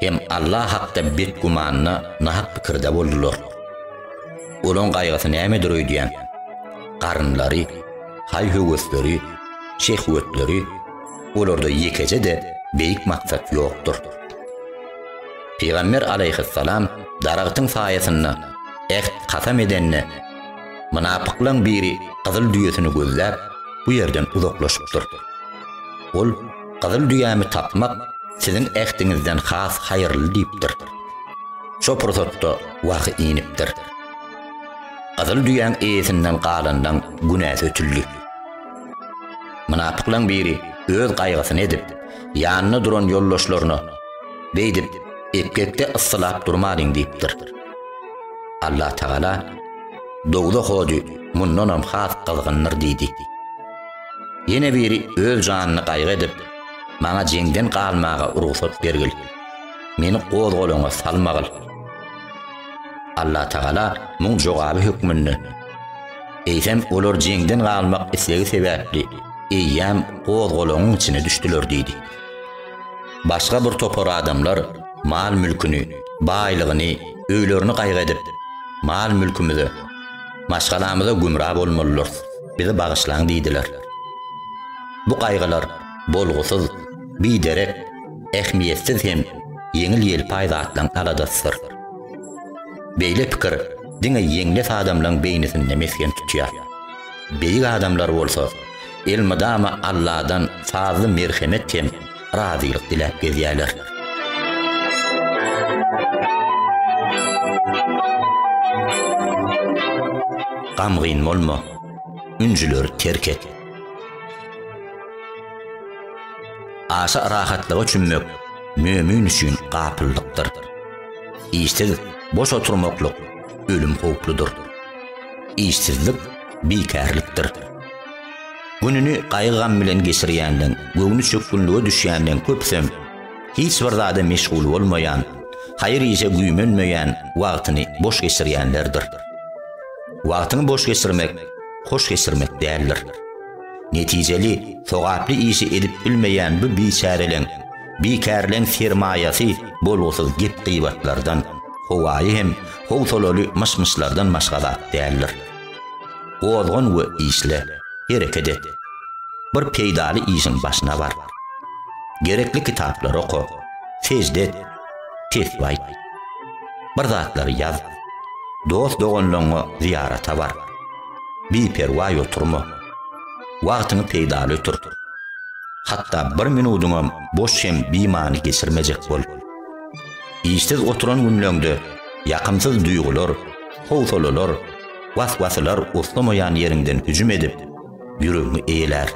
Hem Allah hakda bet gümanda, nahak pikirde boldular. Olaň gaýgysy nämedir öýdýän? Garynlary, haý-höwesleri, şehwetleri, olarda ýekeje-de beýik maksat ýokdur. Pygamber alaýhyssalam daragtyň saýasynda äht, kasam edende, mynapyklaň biri gyzyl düýesini gözläp, bu ýerden uzaklaşypdyr. Ol, Gyzyl düýämi tapmak siziň ähtiňizden has haýyrly diýipdir. Şo pursatda wahy inipdir. Gyzyl düýäň eýesinden galanlaň günäsi ötüldi. Mynapyklaň biri öz gaýgysyny edip, ýanynda duran ýoldaşlaryna, Beýdip, epgekde yssylap durmalyň diýipdir. Allatagala, Dogza hojy mundanam has gyzgyndyr diýdi. Ýene biri öz janyny gaýgy edip, Maňa jeňden galmaga rugsat bergil. Meni gozgalaňa salmagyl. Allatagala muň jogaby hökmünde, Eýsem, olar jeňden galmak islegi sebäpli eýýäm gozgalaňyň içine düşdüler diýdi. Başga bir topar adamlar mal-mülküni, baýlygyny, öýlerini gaýgy edip, Mal-mülkümize, maşgalamyza gümra bolmalydyrys, bizi bagyşlaň diýdiler. Bu gaýgylar bolgusyz, biderek, ähmiýetsiz hem ýeňil-ýelpaý zatlaryň aladasydyr. Beýle pikir diňe ýeňles adamlaryň beýnisinde mesgen tutýar. Beýik adamlar bolsa elmydama Alladan sazly merhemet hem razylyk diläp gezýärler. Gamgyn bolma, ünjüleri terk et. Aşa rahatlyga çümmek mömin üçin gapyllykdyr. Işsiz boş oturmaklyk ölüm howpludyr. Işsizlik bikärlikdir. Gününi gaýgy-gam bilen geçirýänleň, göwni çökgünlige düşýänleň köpüsem, hiç bir zada meşgul bolmaýan, haýyr-işe güýmenmeýän wagtyny boş geçirýänlerdir. Wagtyňy boş geçirmek hoş geçirmek däldir. Netijeli, sogaply işi edip bilmeýän bu biçäreleň, bikärleň sermaýasy bolgusyz gep-gybatlardan, howaýy hem howsalaly myş-myşlardan başga zat däldir. Gozgan we işle, hereket et. Bir peýdaly işiň başyna bar. Gerekli kitaplary oka, sežde et, tesbih aýt. Bir zatlary ýaz. Dost-doganlaryňa zyýarata bar. Biperwaý oturma. Wagtyňy peýdaly ötür. Hatda bir minudyňam boş hem bimany geçirmejek bol. Işsiz oturan günleňde ýakymsyz duýgular, Howsalalar, was-wasylar uslamaýan ýeriňden hüjüm edip, ýüregiňi eýelär.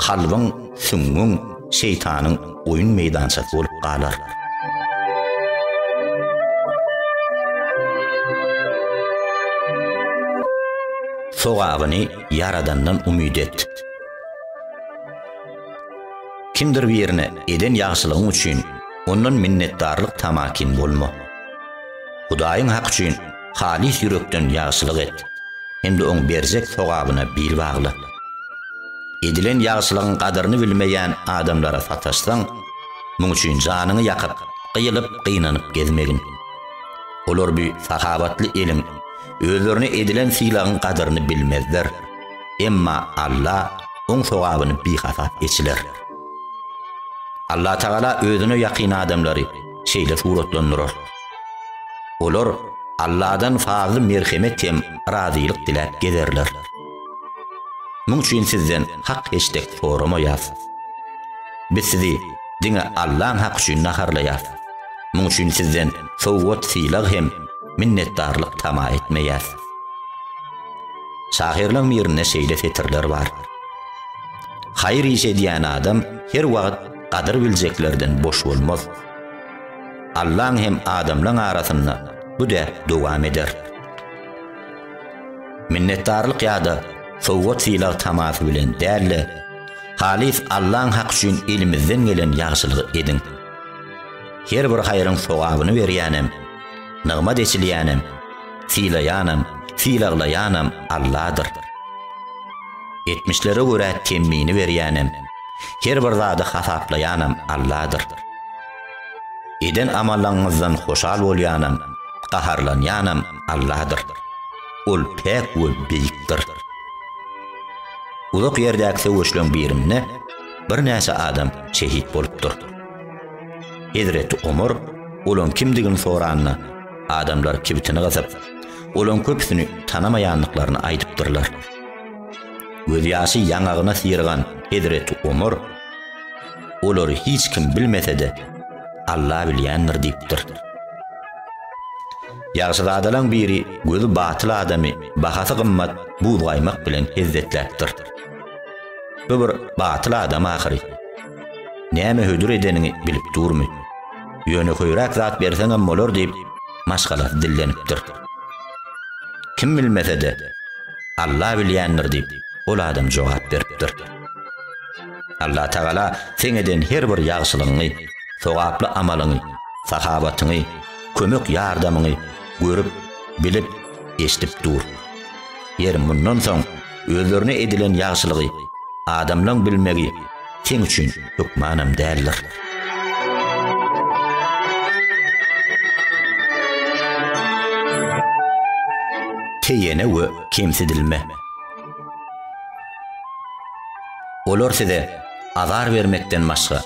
Kalbyň, süňňüň şeýtanyň oýun meýdançasy bolup galar. Sogabyny Ýaradandan umyt et. Kimdir birine eden ýagşylygyň üçin ondan minnetdarlyk tamakin bolma. Hudaýyň haky üçin halys ýürekden ýagşylyk et hem-de oň berjek sogabyna bil bagla. Edilen ýagşylygyň gadyryny bilmeýän adamlara sataşsaň, muň üçin janyňy ýakyp, gyýylyp, gynanyp gezmegin. Olar bu sahawatly eliň, özlerine edilen sylagyň gadyryny bilmezler. Emma Alla oň sogabyny bihasap eçiler. Allatagala özüne ýakyn adamlary, şeýle suratlandyrar. Olar Alladan fazly-merhemet hem razylyk diläp gezerler. Muň üçin sizden hak heçdek soramaýas. Biz sizi diňe Allaň haky üçin naharlaýas. Muň üçin sizden sowgat-sylag hem minnetdarlyk tama etmeýäs. Şahyrlaň birinde şeýle setirler bar. Haýyr iş edýän adam her wagt gadyr biljeklerden boş bolmaz. Allaň hem adamlaň arasynda bu däp dowam eder. Minnetdarlyk ýa-da sowgat-sylag tamasy bilen däl-de, halys Allaň haky üçin elimizden gelen ýagşylygy ediň. Her bir haýryň sogabyny berýänem, nygmat eçilýänem, sylaýanam, sylaglaýanam Alladyr. Etmişlere görä temmini berýänem, her bir zady hasaplaýanam Alladyr. Eden amallaňyňyzdan hoşal bolýanam, gaharlanýanam Alladyr. Ol päk we beýikdir. Uzak ýerdäki söweşleň birinde birnäçe adam şehit bolupdyr. Hezreti Omar olaň kimdigini soranda, adamlar kibitini gysyp, olaň köpüsini tanamaýandyklaryny aýdypdyrlar. Gözýaşy ýaňagyna syrygan hezreti Omar, Olary hiç kim bilmese-de, Alla bilýändir diýipdir. Ýagşyzadalaň biri gözi batyl adamy bahasy gymmat buzgaýmak bilen hezzetläpdir. Bu bir batyl adam ahyry. Näme hödür edenini bilip durmy? Ýöne höýräk zat berseňem bolar diýip, maşgalasy dillenipdir. Kim bilmese-de, Alla bilýändir diýip, ol adam jogap beripdir. Allatagala seň eden her bir ýagşylygyňy, sogaply amalyňy, sahawatyňy, kömek-ýardamyňy görüp, bilip, eşidip dur. Ýeri mundan soň Özlerine edilen ýagşylygy adamlaň bilmegi sen üçin hökmanam däldir. Teýene we kemsidilme. Olar size azar bermekden başga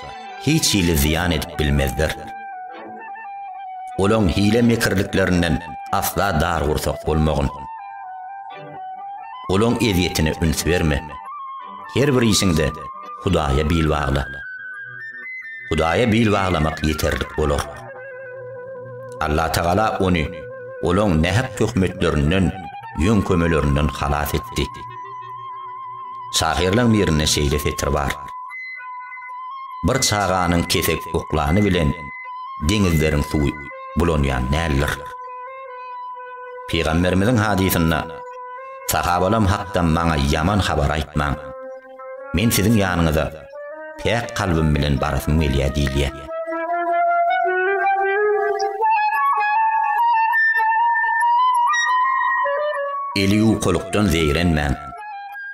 hiç hili zyýan edip bilmezler. Olaň hile mekirliklerinden asla dar gursak bolmagyn. Guluň ezýetine üns berme. Her bir işiňde Hudaýa bil bagla. Hudaýa bil baglamak ýeterlik bolar. Allatagala ony olaň nähak töhmetlerinden, ýöňkemelerinden halas etdi. Şahyrlaň birinde şeýle setir bar. Bir çaganyň kesek oklany bilen deňizleriň suwy bulanýan däldir. Pygamberimiziň hadysynda, Sahabalam hakda maňa ýaman habar aýtmaň. Men siziň ýanyňyza päk kalbym bilen barasym gelýär diýilýär. Eli ýuwkulykdan zeýrenmäň.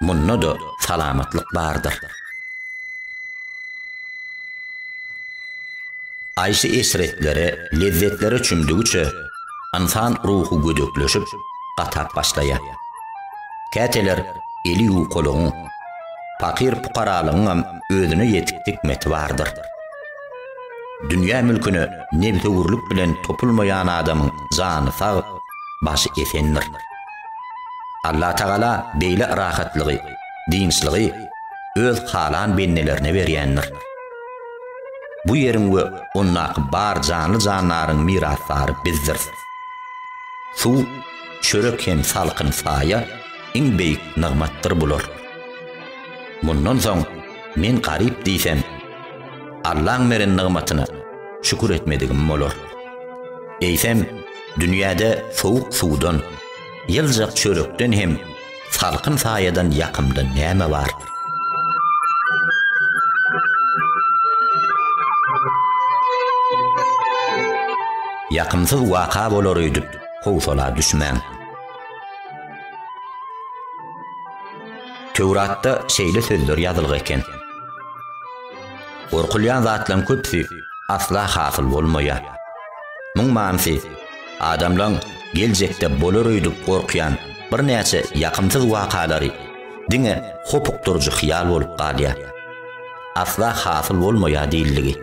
Munda-da salamatlyk bardyr. Haýsy eşretlere, lezzetlere çümdügiçe, ynsan ruhy gödekleşip, gatap başlaýar. Käteler eli ýukalygyň, pakyr-pukaralygyňam özüne ýetik hikmeti bardyr. Dünýä mülküne nebsewürlik bilen topulmaýan adamyň jany sag, başy esendir. Allatagala beýle rahatlygy dynçlygy Öz halan bendelerine berýändir. Bu ýeriň we ondaky bar janly-jandaryň mirasdary bizdiris. Suw, çörek hem salkyn saýa iň beýik nygmatdyr bular. Mundan soň men garyp diýsem, Allaň beren nygmatyna şükür etmedigim bolar. Eýsem, dünýäde sowuk suwdan, ýyljak çörekden hem Salkyn saýadan ýakymly näme bar? Ýakymsyz waka bolar öýdüp, howsala düşmäň. Töwratda şeýle sözler ýazylgy eken. Gorkulýan zatlaryň köpüsi asla hasyl bolmaýar. Muň manysy, Adamlaryň geljekde bolar öýdüp gorkýan birnäçe ýakymsyz wakalary diňe hopukdyryjy hyýal bolup galýar. Asla hasyl bolmaýar diýildigi.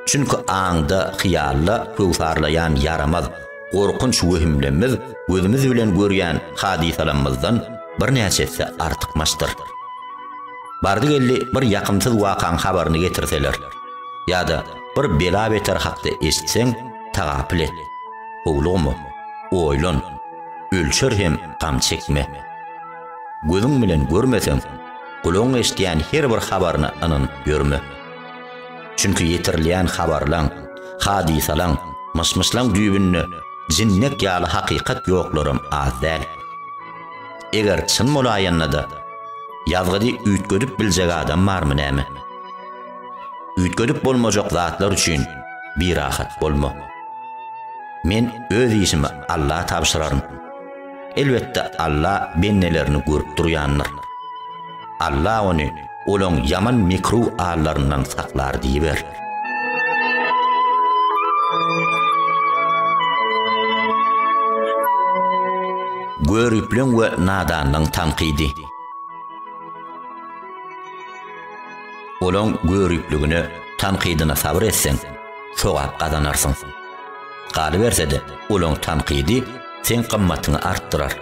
Çünki aňda, hyýalda köwsarlaýan ýaramaz, gorkunç wehimlemmiz gözümiz bilen görýän hadysalammyzdan birnäçe esse artykmaçdyr. Bardy-geldi bir ýakymsyz wakaň habaryny getirseler ýa-da bir bela-beter hakda eşitseň, Tagapyl et, howlugma, oýlan, ölçer hem gam çekme. Gözüň bilen görmeseň, gulagyň eşidýän her bir habaryna ynanyp ýörme. Çünki ýetirilýän habarlaň, hadysalaň, myş-myşlaň düýbünde jinnek ýaly hakykat ýoklaram az däl. Eger çyn bolaýanda-da, ýazgydy üýtgedip biljek adam barmy näme? Üýtgedip bolmajak zatlar üçin birahat bolma. Men öz işimi Alla tabşyraryn. Elbetde Alla bendelerini görüp durýandyr. Alla ony olaň ýaman mekruh allaryndan saklar diýiber. Göripliň we nadanlyň tankydy. Olaň göripligine, tankydyna sabyr etseň, sogap gazanarsyň. Galyberse-de, olaň tankydy seň gymmatyňy artdyrar.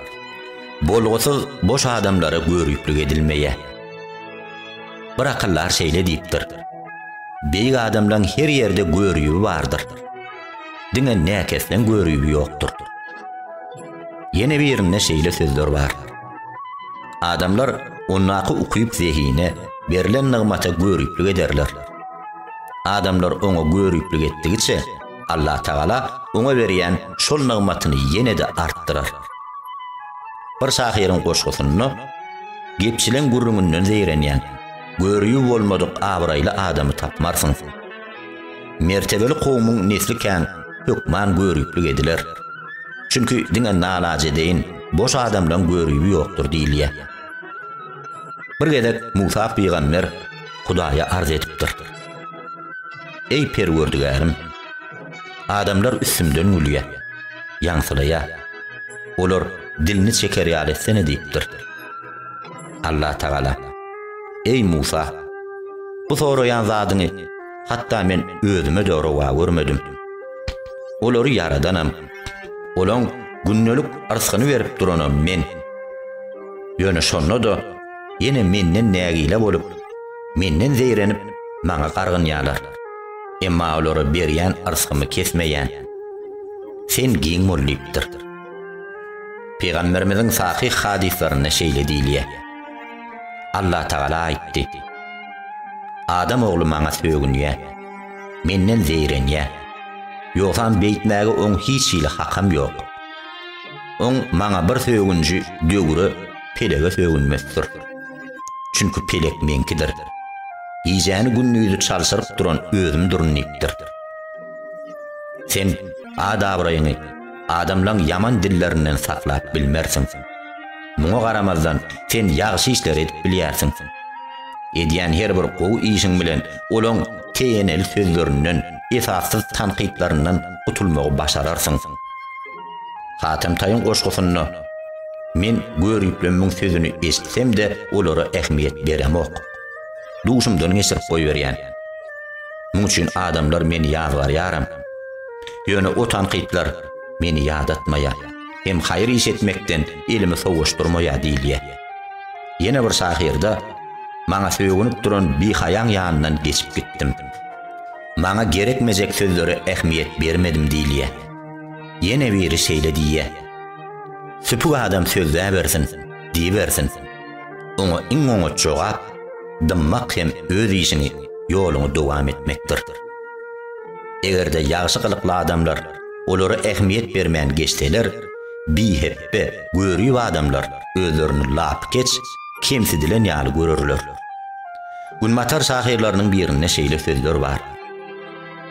Bolgusyz boş adamlara göriplik edilmeýär. Bir akyldar şeýle diýipdir, Beýik adamlaň her ýerde göribi bardyr. Diňe näkesleň göribi ýokdur. Ýene birinde şeýle sözler bar, Adamlar ondaky ukyp zehine, berlen nygmata göriplik ederler. Adamlar oňa göriplik etdigiçe, Allatagala oňa berýän şol nygmatyny ýene-de artdyrar. Bir şahyryň goşgusynda Gepçileň gürrüňinden zeýrenýän, görübi bolmadyk abraýly adamy tapmarsyň. Mertebeli kowumyň nesli kän hökman göriplik ediler. Çünki diňe nalajedeýin, boş adamlaň göribi ýokdur diýilýär. Bir gezek Musa pygamber Hudaýa arz edipdir. Eý Perwerdigärim! Adamlar üstümden gülýär, ýaňsylaýar. Olar dilini çeker ýaly etsene diýipdir. Allatagala, Eý Musa! Bu soraýan zadyňy hatda men özüme-de rowa görmedim. Olary ýaradanam, olaň gündelik yrsgyny berip duranam men. Ýöne şonda-da ýene menden nägile bolup, menden zeýrenip, maňa gargynýarlar. Emma olara berýän yrsgymy kesmeýän Sen giň bol diýipdir. Pygamberimiziň sahyh hadyslarynda şeýle diýilýär, Allatagala aýtdy, Adam ogly maňa sögünýär, menden zeýrenýär, ýogsam beýtmäge oň hiç hili hakam ýok. Oň maňa bir sögünji döwre, pelege sögünmesdir. Çünki pelek meňkidir. Gijäni-gündizi çalşyryp duran özümdirin diýipdir. Sen ad-abraýyňy, Adamlaň ýaman dillerinden saklap bilmersiň. Muňa garamazdan, sen ýagşy işleri edip bilýärsiň. Edýän her bir gowy işiň bilen olaň teýeneli sözlerinden, esassyz tankytlaryndan gutulmagy başararsyň. Hatemtaýyň goşgusynda, Men görüplemiň sözüni eşitsem-de, olara ähmiýet beremok. Duşumdan geçirip goýberýän. Muň üçin adamlar meni ýazgarýaram. Ýöne o tankytlar meni ýadatmaýar, hem haýyr iş etmekden elimi sowaşdyrmaýar diýilýär. Ýene bir şahyrda, Maňa sögünip duran bihaýaň ýanyndan geçip gitdim. Maňa gerekmejek sözlere ähmiýet bermedim diýilýär. Ýene biri şeýle diýýär, Süpük adam sözläbersin, diýibersin. Oňa iň oňat jogap, dymmak hem öz işiňi, ýoluňy dowam etmekdir. Eger-de ýagşy gylykly adamlar olara ähmiýet bermän geçseler, bihepbe, görüp adamlar özlerini lapykeç, kemsidilen ýaly görerler. Günbatar şahyrlarynyň birinde şeýle sözler bar,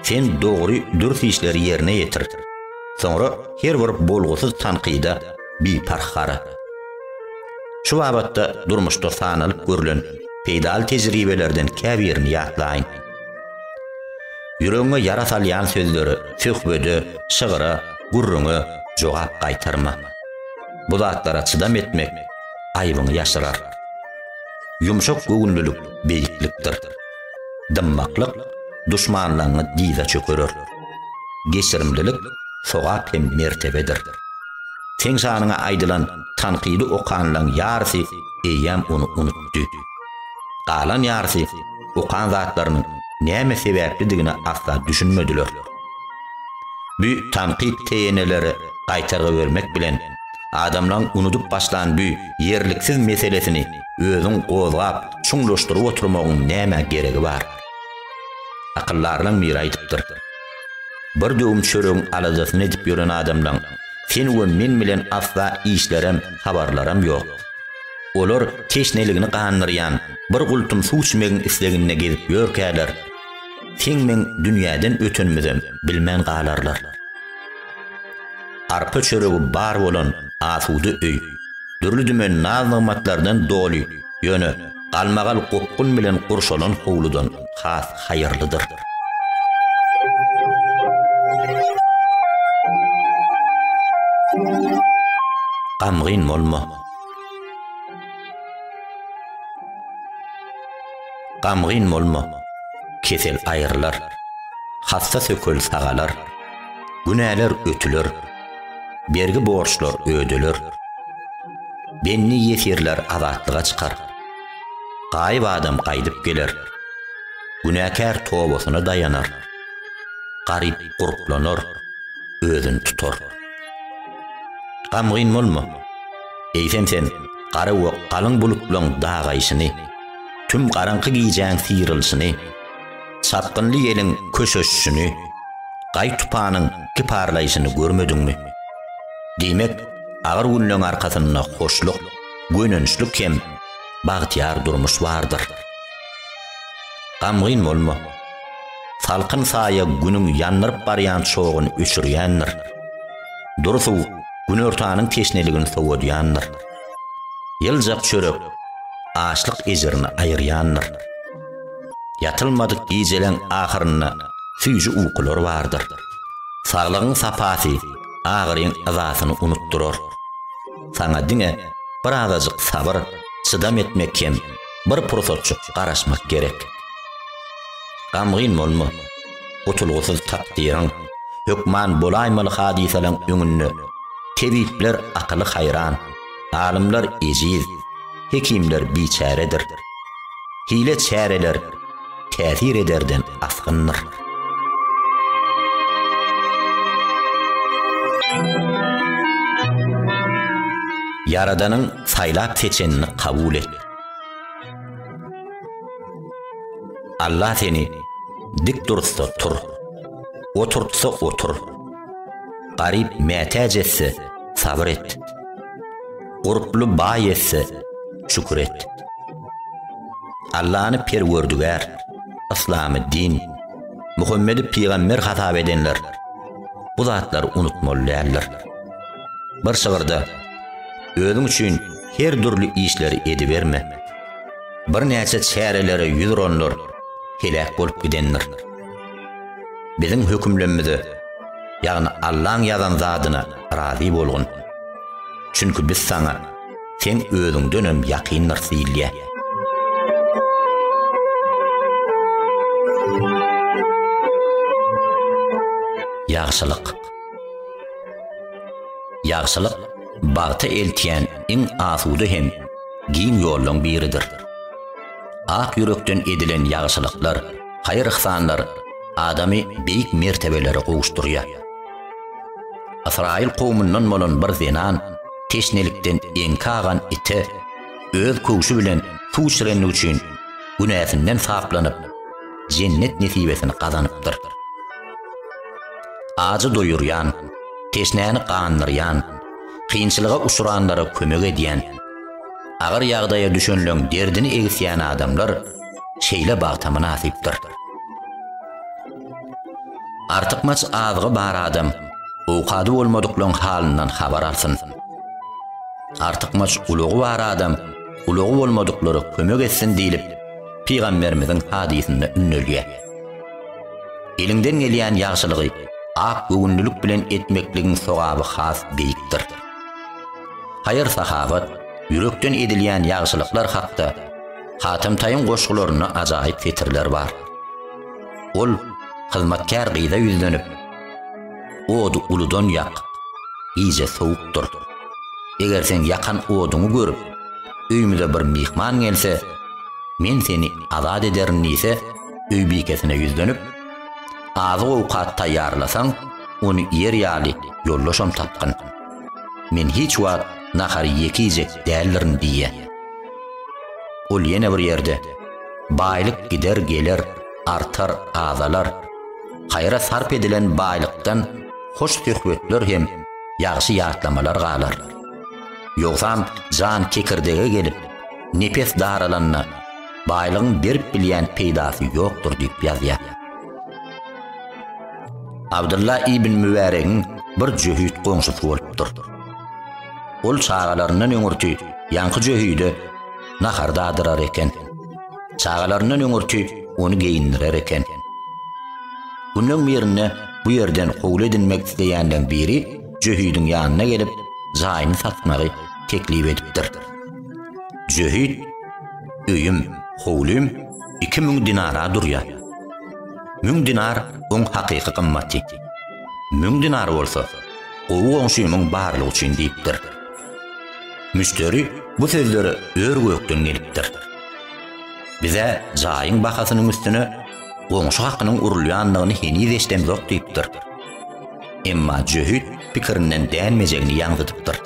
Sen dogry, dürs işleri ýerine ýetir, soňra her bir bolgusyz tankyda biparh gara. Şu babatda durmuşda sanalyp görlen peýdaly tejribelerden käbirini ýatlaýyn. Ýüregiňe ýara salýan sözlere, söhbede, şygra, gürrüňe jogap gaýtarma. Bu zatlara çydam etmek aýbyňy ýaşyrar. Ýumşak göwünlilik beýiklikdir. Dymmaklyk duşmanlaňňy dyza çökerer. Geçirimlilik sogap hem mertebedir. Seň şanyňa aýdylan tankydy okanlaň ýarysy eýýäm ony unutdy. Galan ýarysy okan zatlarynyň näme sebäplidigine asla düşünmediler. Bu tankyt TN-lere gaýtargy bermek bilen, adamlaň unudyp başlan bu ýerliksiz meselesini özüň gozgap, çuňlaşdyryp oturmagyň nämä geregi bar? Akyldarlaň biri aýdypdyr. Bir döwüm çöregiň aladasyny edip ýören adamlaň sen we men bilen asla işlerem, habarlaram ýok. Olar teşneligini gandyrýan bir gultum suw içmegiň isleginde gezip ýörkäler, seň-meň dünýäden ötenimizem bilmän galarlar. Arpa çöregi bar bolan asuda öý, dürli-dümen naz-nygmatlardan doly, ýöne, galmagal gopgun bilen gurşalan howludan has haýyrlydyr. Gamgyn bolma. Gamgyn bolma. Kesel aýrylar. Hassa sökel sagalar. Günäler ötüler. Bergi borçlar ödeler. Benni ýesirler azatlyga çykar. Gaýyp adam gaýdyp geler. Günäkär tobasyna daýanar. Garyp gurplanar, özüni tutar. Gamgyn bolma. Eýsem sen gara we galyň bulutlaryň dagaýşyny, tüm garaňky gijäň syrylyşyny, Çapgynly ýeliň köşeşişini, gaý tupanyň kiparlaýşyny görmediňmi? Diýmek, agyr günleň arkasynda hoşluk, gönençlik hem bagtyýar durmuş bardyr. Gamgyn bolma. Salkyn saýa günüň ýandyryp barýan çoguny öçürýändir. Dury suw günortanyň teşneligini sowadýandyr. Ýyljak çörek açlyk ejirini aýyrýandyr. Ýatylmadyk gijeleň ahyrynda süýji ukular bardyr. Saglygyň sapasy agyryň yzasyny unutdyrar. Saňa diňe birazajyk sabyr, çydam etmek hem bir pursatjyk garaşmak gerek. Gamgyn bolma. Gutulgysyz takdyryň, hökman bolaýmaly hadysalaň öňünde tebipler akyly haýran, alymlar ejiz, hekimler biçäredir. Hile çäreler täsir ederden asgyndyr. Ýaradanyň saýlap seçenini kabul et. Allah seni dik dursa tur. Oturtsa otur. Garyp mätäç etse sabr et. Gurply baý etse, şükür et. Allany Perwerdigär, yslamy din, Muhammedi pygamber hasap edenler bu zatlary unutmaly däldir. Bir şygyrda Özüň üçin her dürli işleri ediberme. Birnäçe çärelere ýüz uranlar heläk bolup gidendir. Biziň hökümlemimize, ýagny Allaň ýazan zadyna razy bolgun. Çünki biz saňa, Sen özüňdenem ýakyndyrs diýilýär. Ýagşylyk. Ýagşylyk bagta eltýän iň asuda hem giň ýollaryň biridir. Ak ýürekden edilen ýagşylyklar, haýyr-yhsanlar adamy beýik mertebelere gowuşdyrýar. Ysraýyl kowumyndan bolan bir zenan teşnelikden eňki agan ite öz köwşi bilen suw içirendigi üçin günäsinden saplanyp, Jennet nesibesini gazanypdyr. Ajy doýurýan, teşnäni gandyrýan, kynçylyga uçranlara kömek edýän, agyr ýagdaýa düşenleň derdini egisýän adamlar şeýle bagta mynasypdyr. Artykmaç azygy bar adam owkady bolmadyklaň halyndan habar alsyn. Artykmaç ulagy bar adam ulagy bolmadyklara kömek etsin diýlip, pygamberimiziň hadysynda ündelýär. Eliňden gelýän ýagşylygy ak göwünlilik bilen etmekligiň sogaby has beýikdir. Haýyr-sahawat, ýürekden edilýän ýagşylyklar hakda Hatam Taýyň goşgularynda ajaýyp setirler bar. Ol hyzmatkär gyza ýüzlenip, Ody uludan ýak, gije sowukdyr. Eger sen ýakan oduňy görüp, öýümize bir myhman gelse, men seni azat ederin diýse, öýbikesine ýüzlenip, Azyk-owkat taýýarlasaň, ony iýer ýaly ýoldaşam tapgyn. Men hiç wagt nahary ýeki iýjek däldirin diýýär. Ol ýene bir ýerde. Baýlyk gider geler, artar, azalar. Haýra sarp edilen baýlykdan hoş söhbetler hem ýagşy ýatlamalar galar. Ýogsam jan kekirdege gelip, nepes daralanda, baýlygyň berip bilýän peýdasy ýokdur diýip ýazýar. Abdylla ibn Mübäregiň bir jöhit goňşusy bolupdyr. Ol çagalaryndan öňürti ýaňky jöhide nahar dadyrar eken. Çagalaryndan öňürti ony geýindirer eken. Günüň birinde bu ýerden howly edinmek isleýänleň biri Jöhidiň ýanyna gelip, jaýyny satmagy teklip edipdir. Jöhid, öýüm, howlym iki müň dinara durýar. Müň dinar oň hakyky gymmaty. Müň dinar bolsa, gowy goňşymyň barlygy üçin diýipdir. Müşderi bu sözlere ör-gökden gelipdir. Bize jaýyň bahasynyň üstüne goňşy hakynyň urulýandygyny heniz eşidemzok diýipdir. Emma jöhit pikirinden dänmejegini ýaňzydypdyr.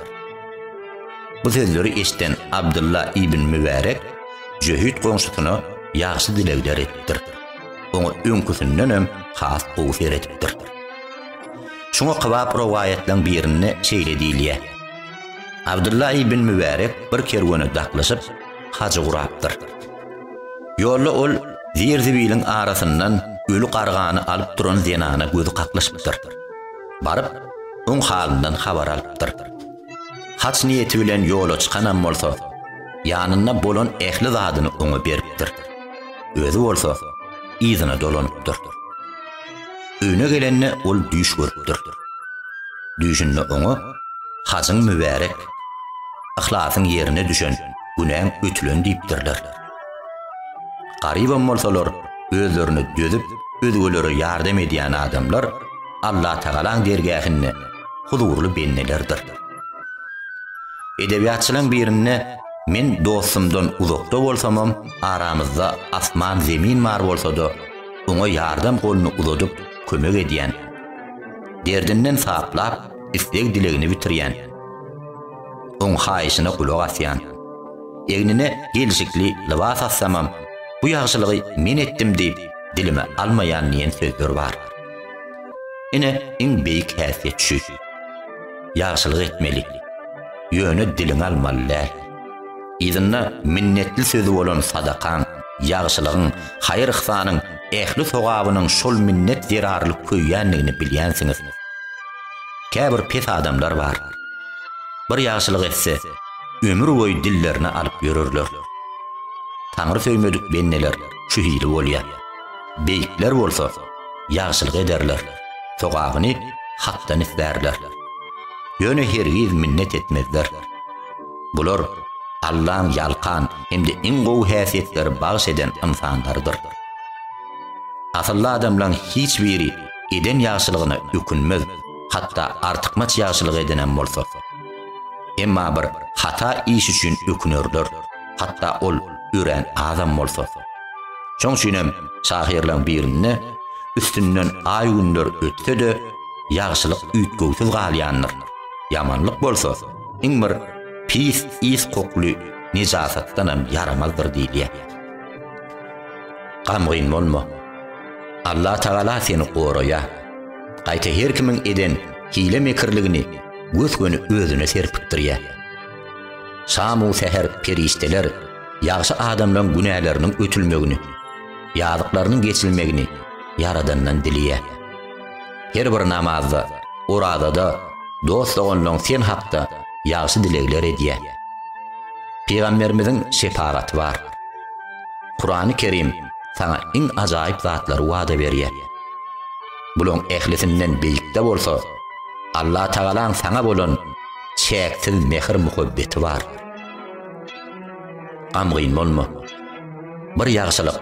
Bu sözleri eşiden Abdylla ibn Mübärek jöhit goňşusyna ýagşy dilegler edipdir. Oňa öňküsindenem has gowy seredipdir. Şuňa kybap rowaýatlaň birinde şeýle diýilýär, Abdylla ibn Mübärek bir kerwene daklyşyp, hajy gurapdyr. Ýolda ol zir-zibiliň arasyndan öli gargany alyp duran zenana gözi kaklyşypdyr. Baryp, oň halyndan habar alypdyr. Haj niýeti bilen ýola çykanam bolsa, ýanynda bolan ähli zadyny oňa beripdir. Özi bolsa, yzyna dolanypdyr. Öýüne gelende ol düýş görüpdir. Düýşünde oňa Hajyň mübärek, yhlasyň ýerine düşen, günäň ötülen diýipdirler. Garybam bolsalar, özlerini dözüp, özgelere ýardam edýän adamlar Allatagalaň dergähinde huzurly bendelerdir. Edebiýatçylaň birinde Men dostumdan uzakda bolsamam, aramyzda asman-zemin bar bolsa-da, oňa ýardam goluny uzadyp, kömek edýän, derdinden saplap, isleg-dilegini bitirýän, oň haýyşyna gulak asýan, egnine gelşikli lybas assamam, bu ýagşylygy men etdim diýip, dilime almaýan diýen sözler bar. Ine, iň beýik häsiýet şu. Ýagşylyk etmeli. Ýöne diliňe almaly däl. Yzynda minnetli sözi bolan sadakaň, ýagşylygyň, haýyr-yhsanyň ähli sogabynyň şol minnet zerarly köýýändigini bilýänsiňiz. Käbir pes adamlar bar. Bir ýagşylyk etse, ömürboýy dillerine alyp ýörerler. Taňry söýmedik bendeler şu hili bolýar. Beýikler bolsa, ýagşylyk ederler, sogabyny Hakdan islärler. Ýöne hergiz minnet etmezler. Bular Allaň ýalkan hem-de iň gowy häsiýetleri bagyş eden ynsanlarydyr. Asylly adamlaň hiç biri eden ýagşylygyna ökünmez, hatda artykmaç ýagşylyk edenem bolsa. Emma bir hata iş üçin ökünerler, hatda ol örän azam bolsa. Şoň üçinem şahyrlaň birinde, Üstünden aý-günler ötse-de, ýagşylyk üýtgewsiz galýandyr, ýamanlyk bolsa, Iň bir pis ys kokly nijasatdanam ýaramazdyr diýilýär. Gamgyn bolma. Allah Tagala seni goraýar. Gaýta her kimiň eden hile-mekirligini gös-göni özüne serpikdirýär. Şam-u säher perişdeler ýagşy adamlaryň günäleriniň ötülmegini, ýazyklarynyň geçilmegini Ýaradandan dileýär. Her bir namazda, orazada dost-doganlaň sen hakda ýagşy dilegler edýä. Pygamberimiziň şepagaty bar. Kurany Kerim saňa iň ajaýyp zatlary wada berýä. Bulaň ählisinden beýikde bolsa Allah Tagalaň saňa bolan çäksiz mähir muhabbeti bar. Gamgyn bolma. Bir ýagşylyk.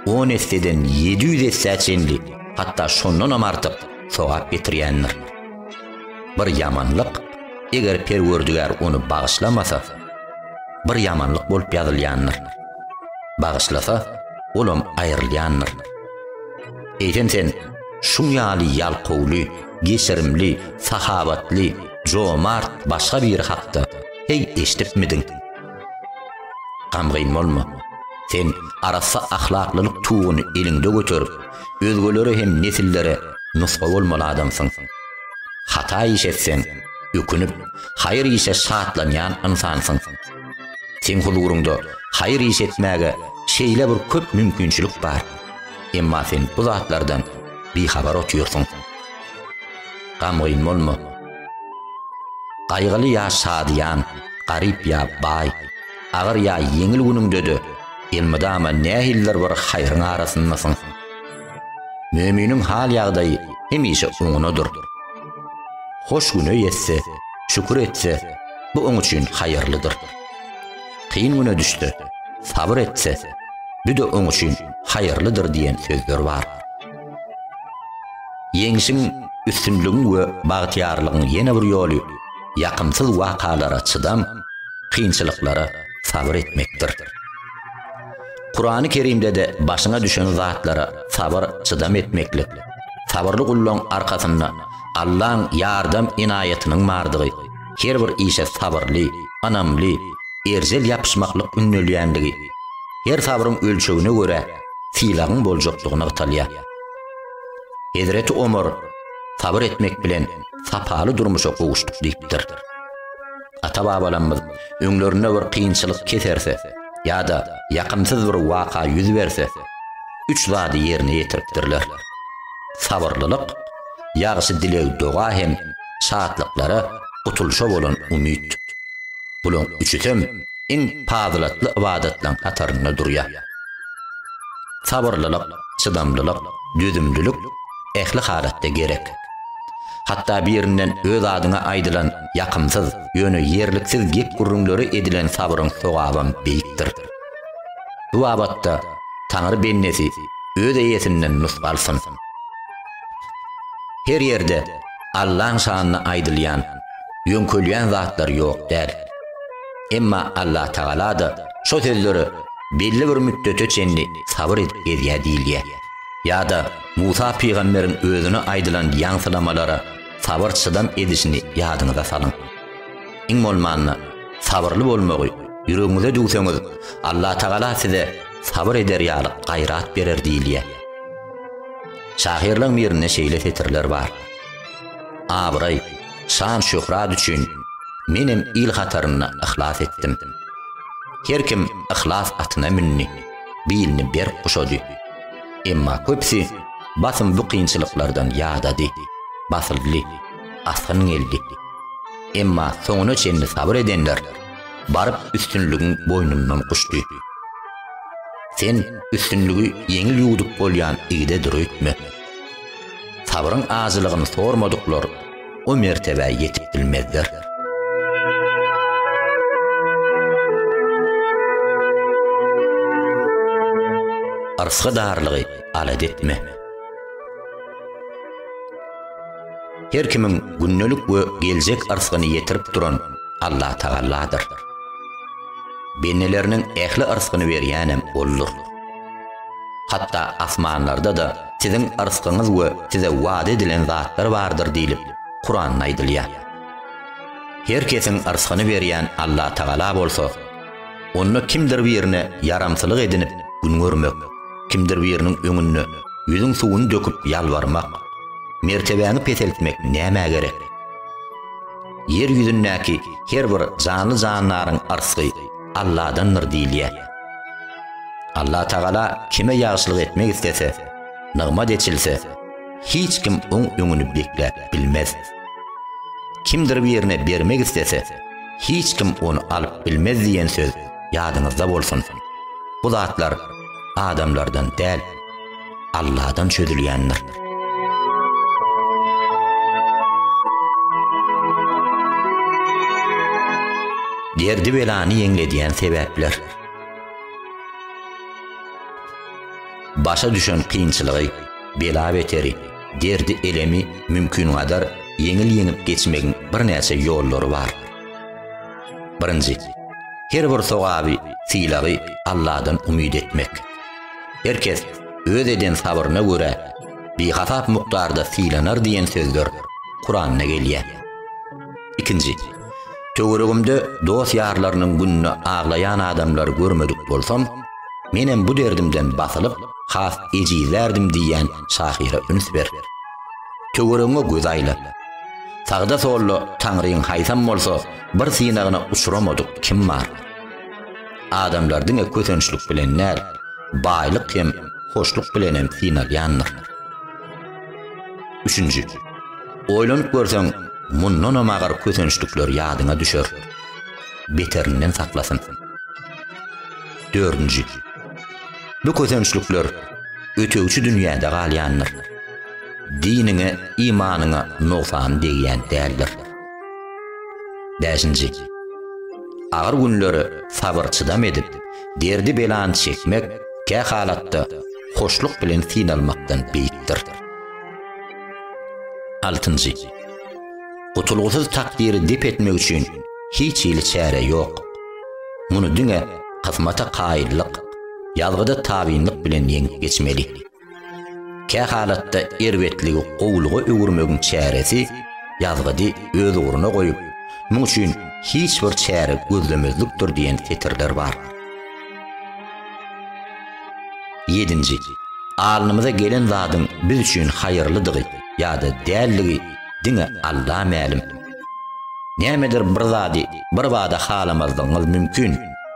on esseden ýedi ýüz essä çenli, hatda şondanam artyk sogap getirýändir. Bir ýamanlyk, eger Perwerdigär ony bagyşlamasa, bir ýamanlyk bolup ýazylýandyr. Bagyşlasa, olam aýrylýandyr. Eýsem sen şuň ýaly ýalkawly, geçirimli, sahawatly, jomart başga biri hakda heý eşidipmidiň? Gamgyn bolma. Sen arassa ahlaklylyk tuguny eliňde göterip, özgelere hem nesillere nusga bolmaly adamsyň. Hata iş etseň, ökünip, haýyr işe şatlanýan ynsansyň. Seň huzuryňda haýyr iş etmäge şeýle bir köp mümkinçilik bar, emma sen bu zatlardan bihabar otyrsyň. Gamgyn bolma. Gaýgyly ýa şadyýan, garyp ýa baý, agyr ýa ýeňil günüňde-de elmydama nähilidir bir haýryň arasyndasyň. Möminiň hal-ýagdaýy hemişe oňunadyr. Hoş güne ýetse, şükür etse, bu oň üçin haýyrlydyr. Kyn güne düşse, sabyr etse, bu-da oň üçin haýyrlydyr diýen sözler bar. Ýeňşiň, üstünligiň we bagtyýarlygyň ýene bir ýoly ýakymsyz wakalara çydam, kynçylyklara sabyr etmekdir. Kurany Kerimde-de başyňa düşen zatlara sabyr, çydam etmeklik, sabyrly gullaň arkasynda Allaň ýardam ynaýatynyň bardygy, her bir işe sabyrly, ynamly, erjel ýapyşmaklyk ündelýändigi, her sabryň ölçegine görä, sylagyň boljakdygy nygtalýar. Hezreti Omar sabyr etmek bilen sapaly durmuşa gowuşdyk diýipdir. Ata-babalarymyz öňlerinde bir kynçylyk keserse ýa-da ýakymsyz bir waka ýüz berse, üç zady ýerine ýetiripdirler. Sabyrlylyk, ýagşy dileg-doga hem şatlyklara, gutulyşa bolan umyt. Bularyň üçüsem iň pazylatly ybadatlaryň hatarynda durýar. Sabyrlylyk, çydamlylyk, dözümlilik ähli halatda gerek. Hatda birinden öz adyňa aýdylan ýakymsyz, ýöne ýerliksiz gep-gürrüňlere edilen sabryň sogabam beýikdir. Bu babatda Taňry bendesi öz eýesinden nusga alsyn. Her ýerde Allaň şanyna aýdylýan, ýöňkelýän zatlar ýok däl. Emma Allatagala-da şo sözlere belli bir müddete çenli sabyr edip gezýär diýilýär. Ýa-da Musa pygamberiň özüne aýdylan ýaňsylamalara sabyr-çydam edişini ýadyňyza salyň. Iň bolmanda, sabyrly bolmagy ýüregiňize düwseňiz, Allatagala size sabyr eder ýaly gaýrat berer diýilýär. Şahyrlaryň birinde şeýle setirler bar, Abraý, şan-şöhrat üçin menem il hatarynda yhlas etdim. Her kim yhlas atyna mündi, bilini berk guşady. Emma köpüsi basym bu kynçylyklardan ýadady, basyldy, asgyn geldi. Emma soňuna çenli sabyr edenler baryp üstünligiň boýnundan guşdy. Sen üstünligi ýeňil ýuwdup bolýan igide dür öýtme. Sabryň ajylygyny sormadyklar o mertebä ýetip bilmezler. Arsga darlygy alad etme. Her kimiň gündelik we geljek arsgyny ýetirip duran Allah Tagalladyr. Bendeleriniň ähli arsgyny berýänem Oldur. Hatda asmanlarda-da siziň yrskyňyz we size wada edilen zatlar bardyr diýlip, Kuranda aýdylýar. Her kesiň yrskyny berýän Allatagala bolsa, onda kimdir birine ýaramsylyk edinip gün görmek, kimdir biriniň öňünde ýüzüň suwuny döküp ýalbarmak, mertebäňi peseltmek nämä gerek? Ýer ýüzündäki her bir janly-jandaryň yrsky Alladandyr diýilýär. Allah Tagala kime ýagşylyk etmek islese, nygmat eçilse, hiç kim oň öňüni bekläp bilmez. Kimdir birine bermek islese, hiç kim ony alyp bilmez diýen söz ýadyňyzda bolsun. Bu zatlar adamlardan däl. Alladan çözülýändir. Derdi belany ýeňledýän sebäpler. Başa düşen kynçylygy, bela beteri, derdi elemi mümkin gadar ýeňil ýeňip geçmegiň birnäçe ýollary bar. Birinji, her bir sogaby, sylagy Alladan umyt etmek. Her kes öz eden sabyryna görä bihasap mukdarda sylanar diýen sözler Kuranda gelýär. Ikinji. Töweregimde dost-ýarlarynyň gününe aglaýan adamlary görmedik bolsam, menem bu derdimden basylyp, has ejizlärdim diýýän şahyra üns ber. Töweregiňe göz aýla. Sagda-solda Taňryň haýsam bolsa bir synagyna uçramadyk kim bar? Adamlar diňe kösençlik bilen däl, baýlyk hem hoşluk bilenem synalýandyr. Üçünji. Oýlanyp görseň, mundanam agyr kösençlikler ýadyňa düşer. Beterinden saklasyn. Dördünji. Bu kösençlikler ötegçi dünýäde galýandyr. Diniňe, imanyňa nogsan degýän däldir. Bäşinji. Agyr günleri sabyr-çydam edip, derdi-belany çekmek kä halatda hoşluk bilen synalmakdan beýikdir. Altynjy. Gutulgysyz takdyry dep etmek üçin hiç hili çäre ýok. Muny diňe kysmata kaýyllyk, ýazgyda tabynlyk bilen ýeňip geçmeli. Kähalatda erbetligi gowulyga öwürmegiň çäresi ýazgydy öz ugruna goýup, muň üçin hiç bir çäre gözlemezlikdir diýen setirler bar. Ýedinji. Alnymyza gelen zadyň biz üçin haýyrlydygy ýa-da däldigi diňe Alla mälim. Nämedir bir zady birbada halamazlygyňyz mümkin.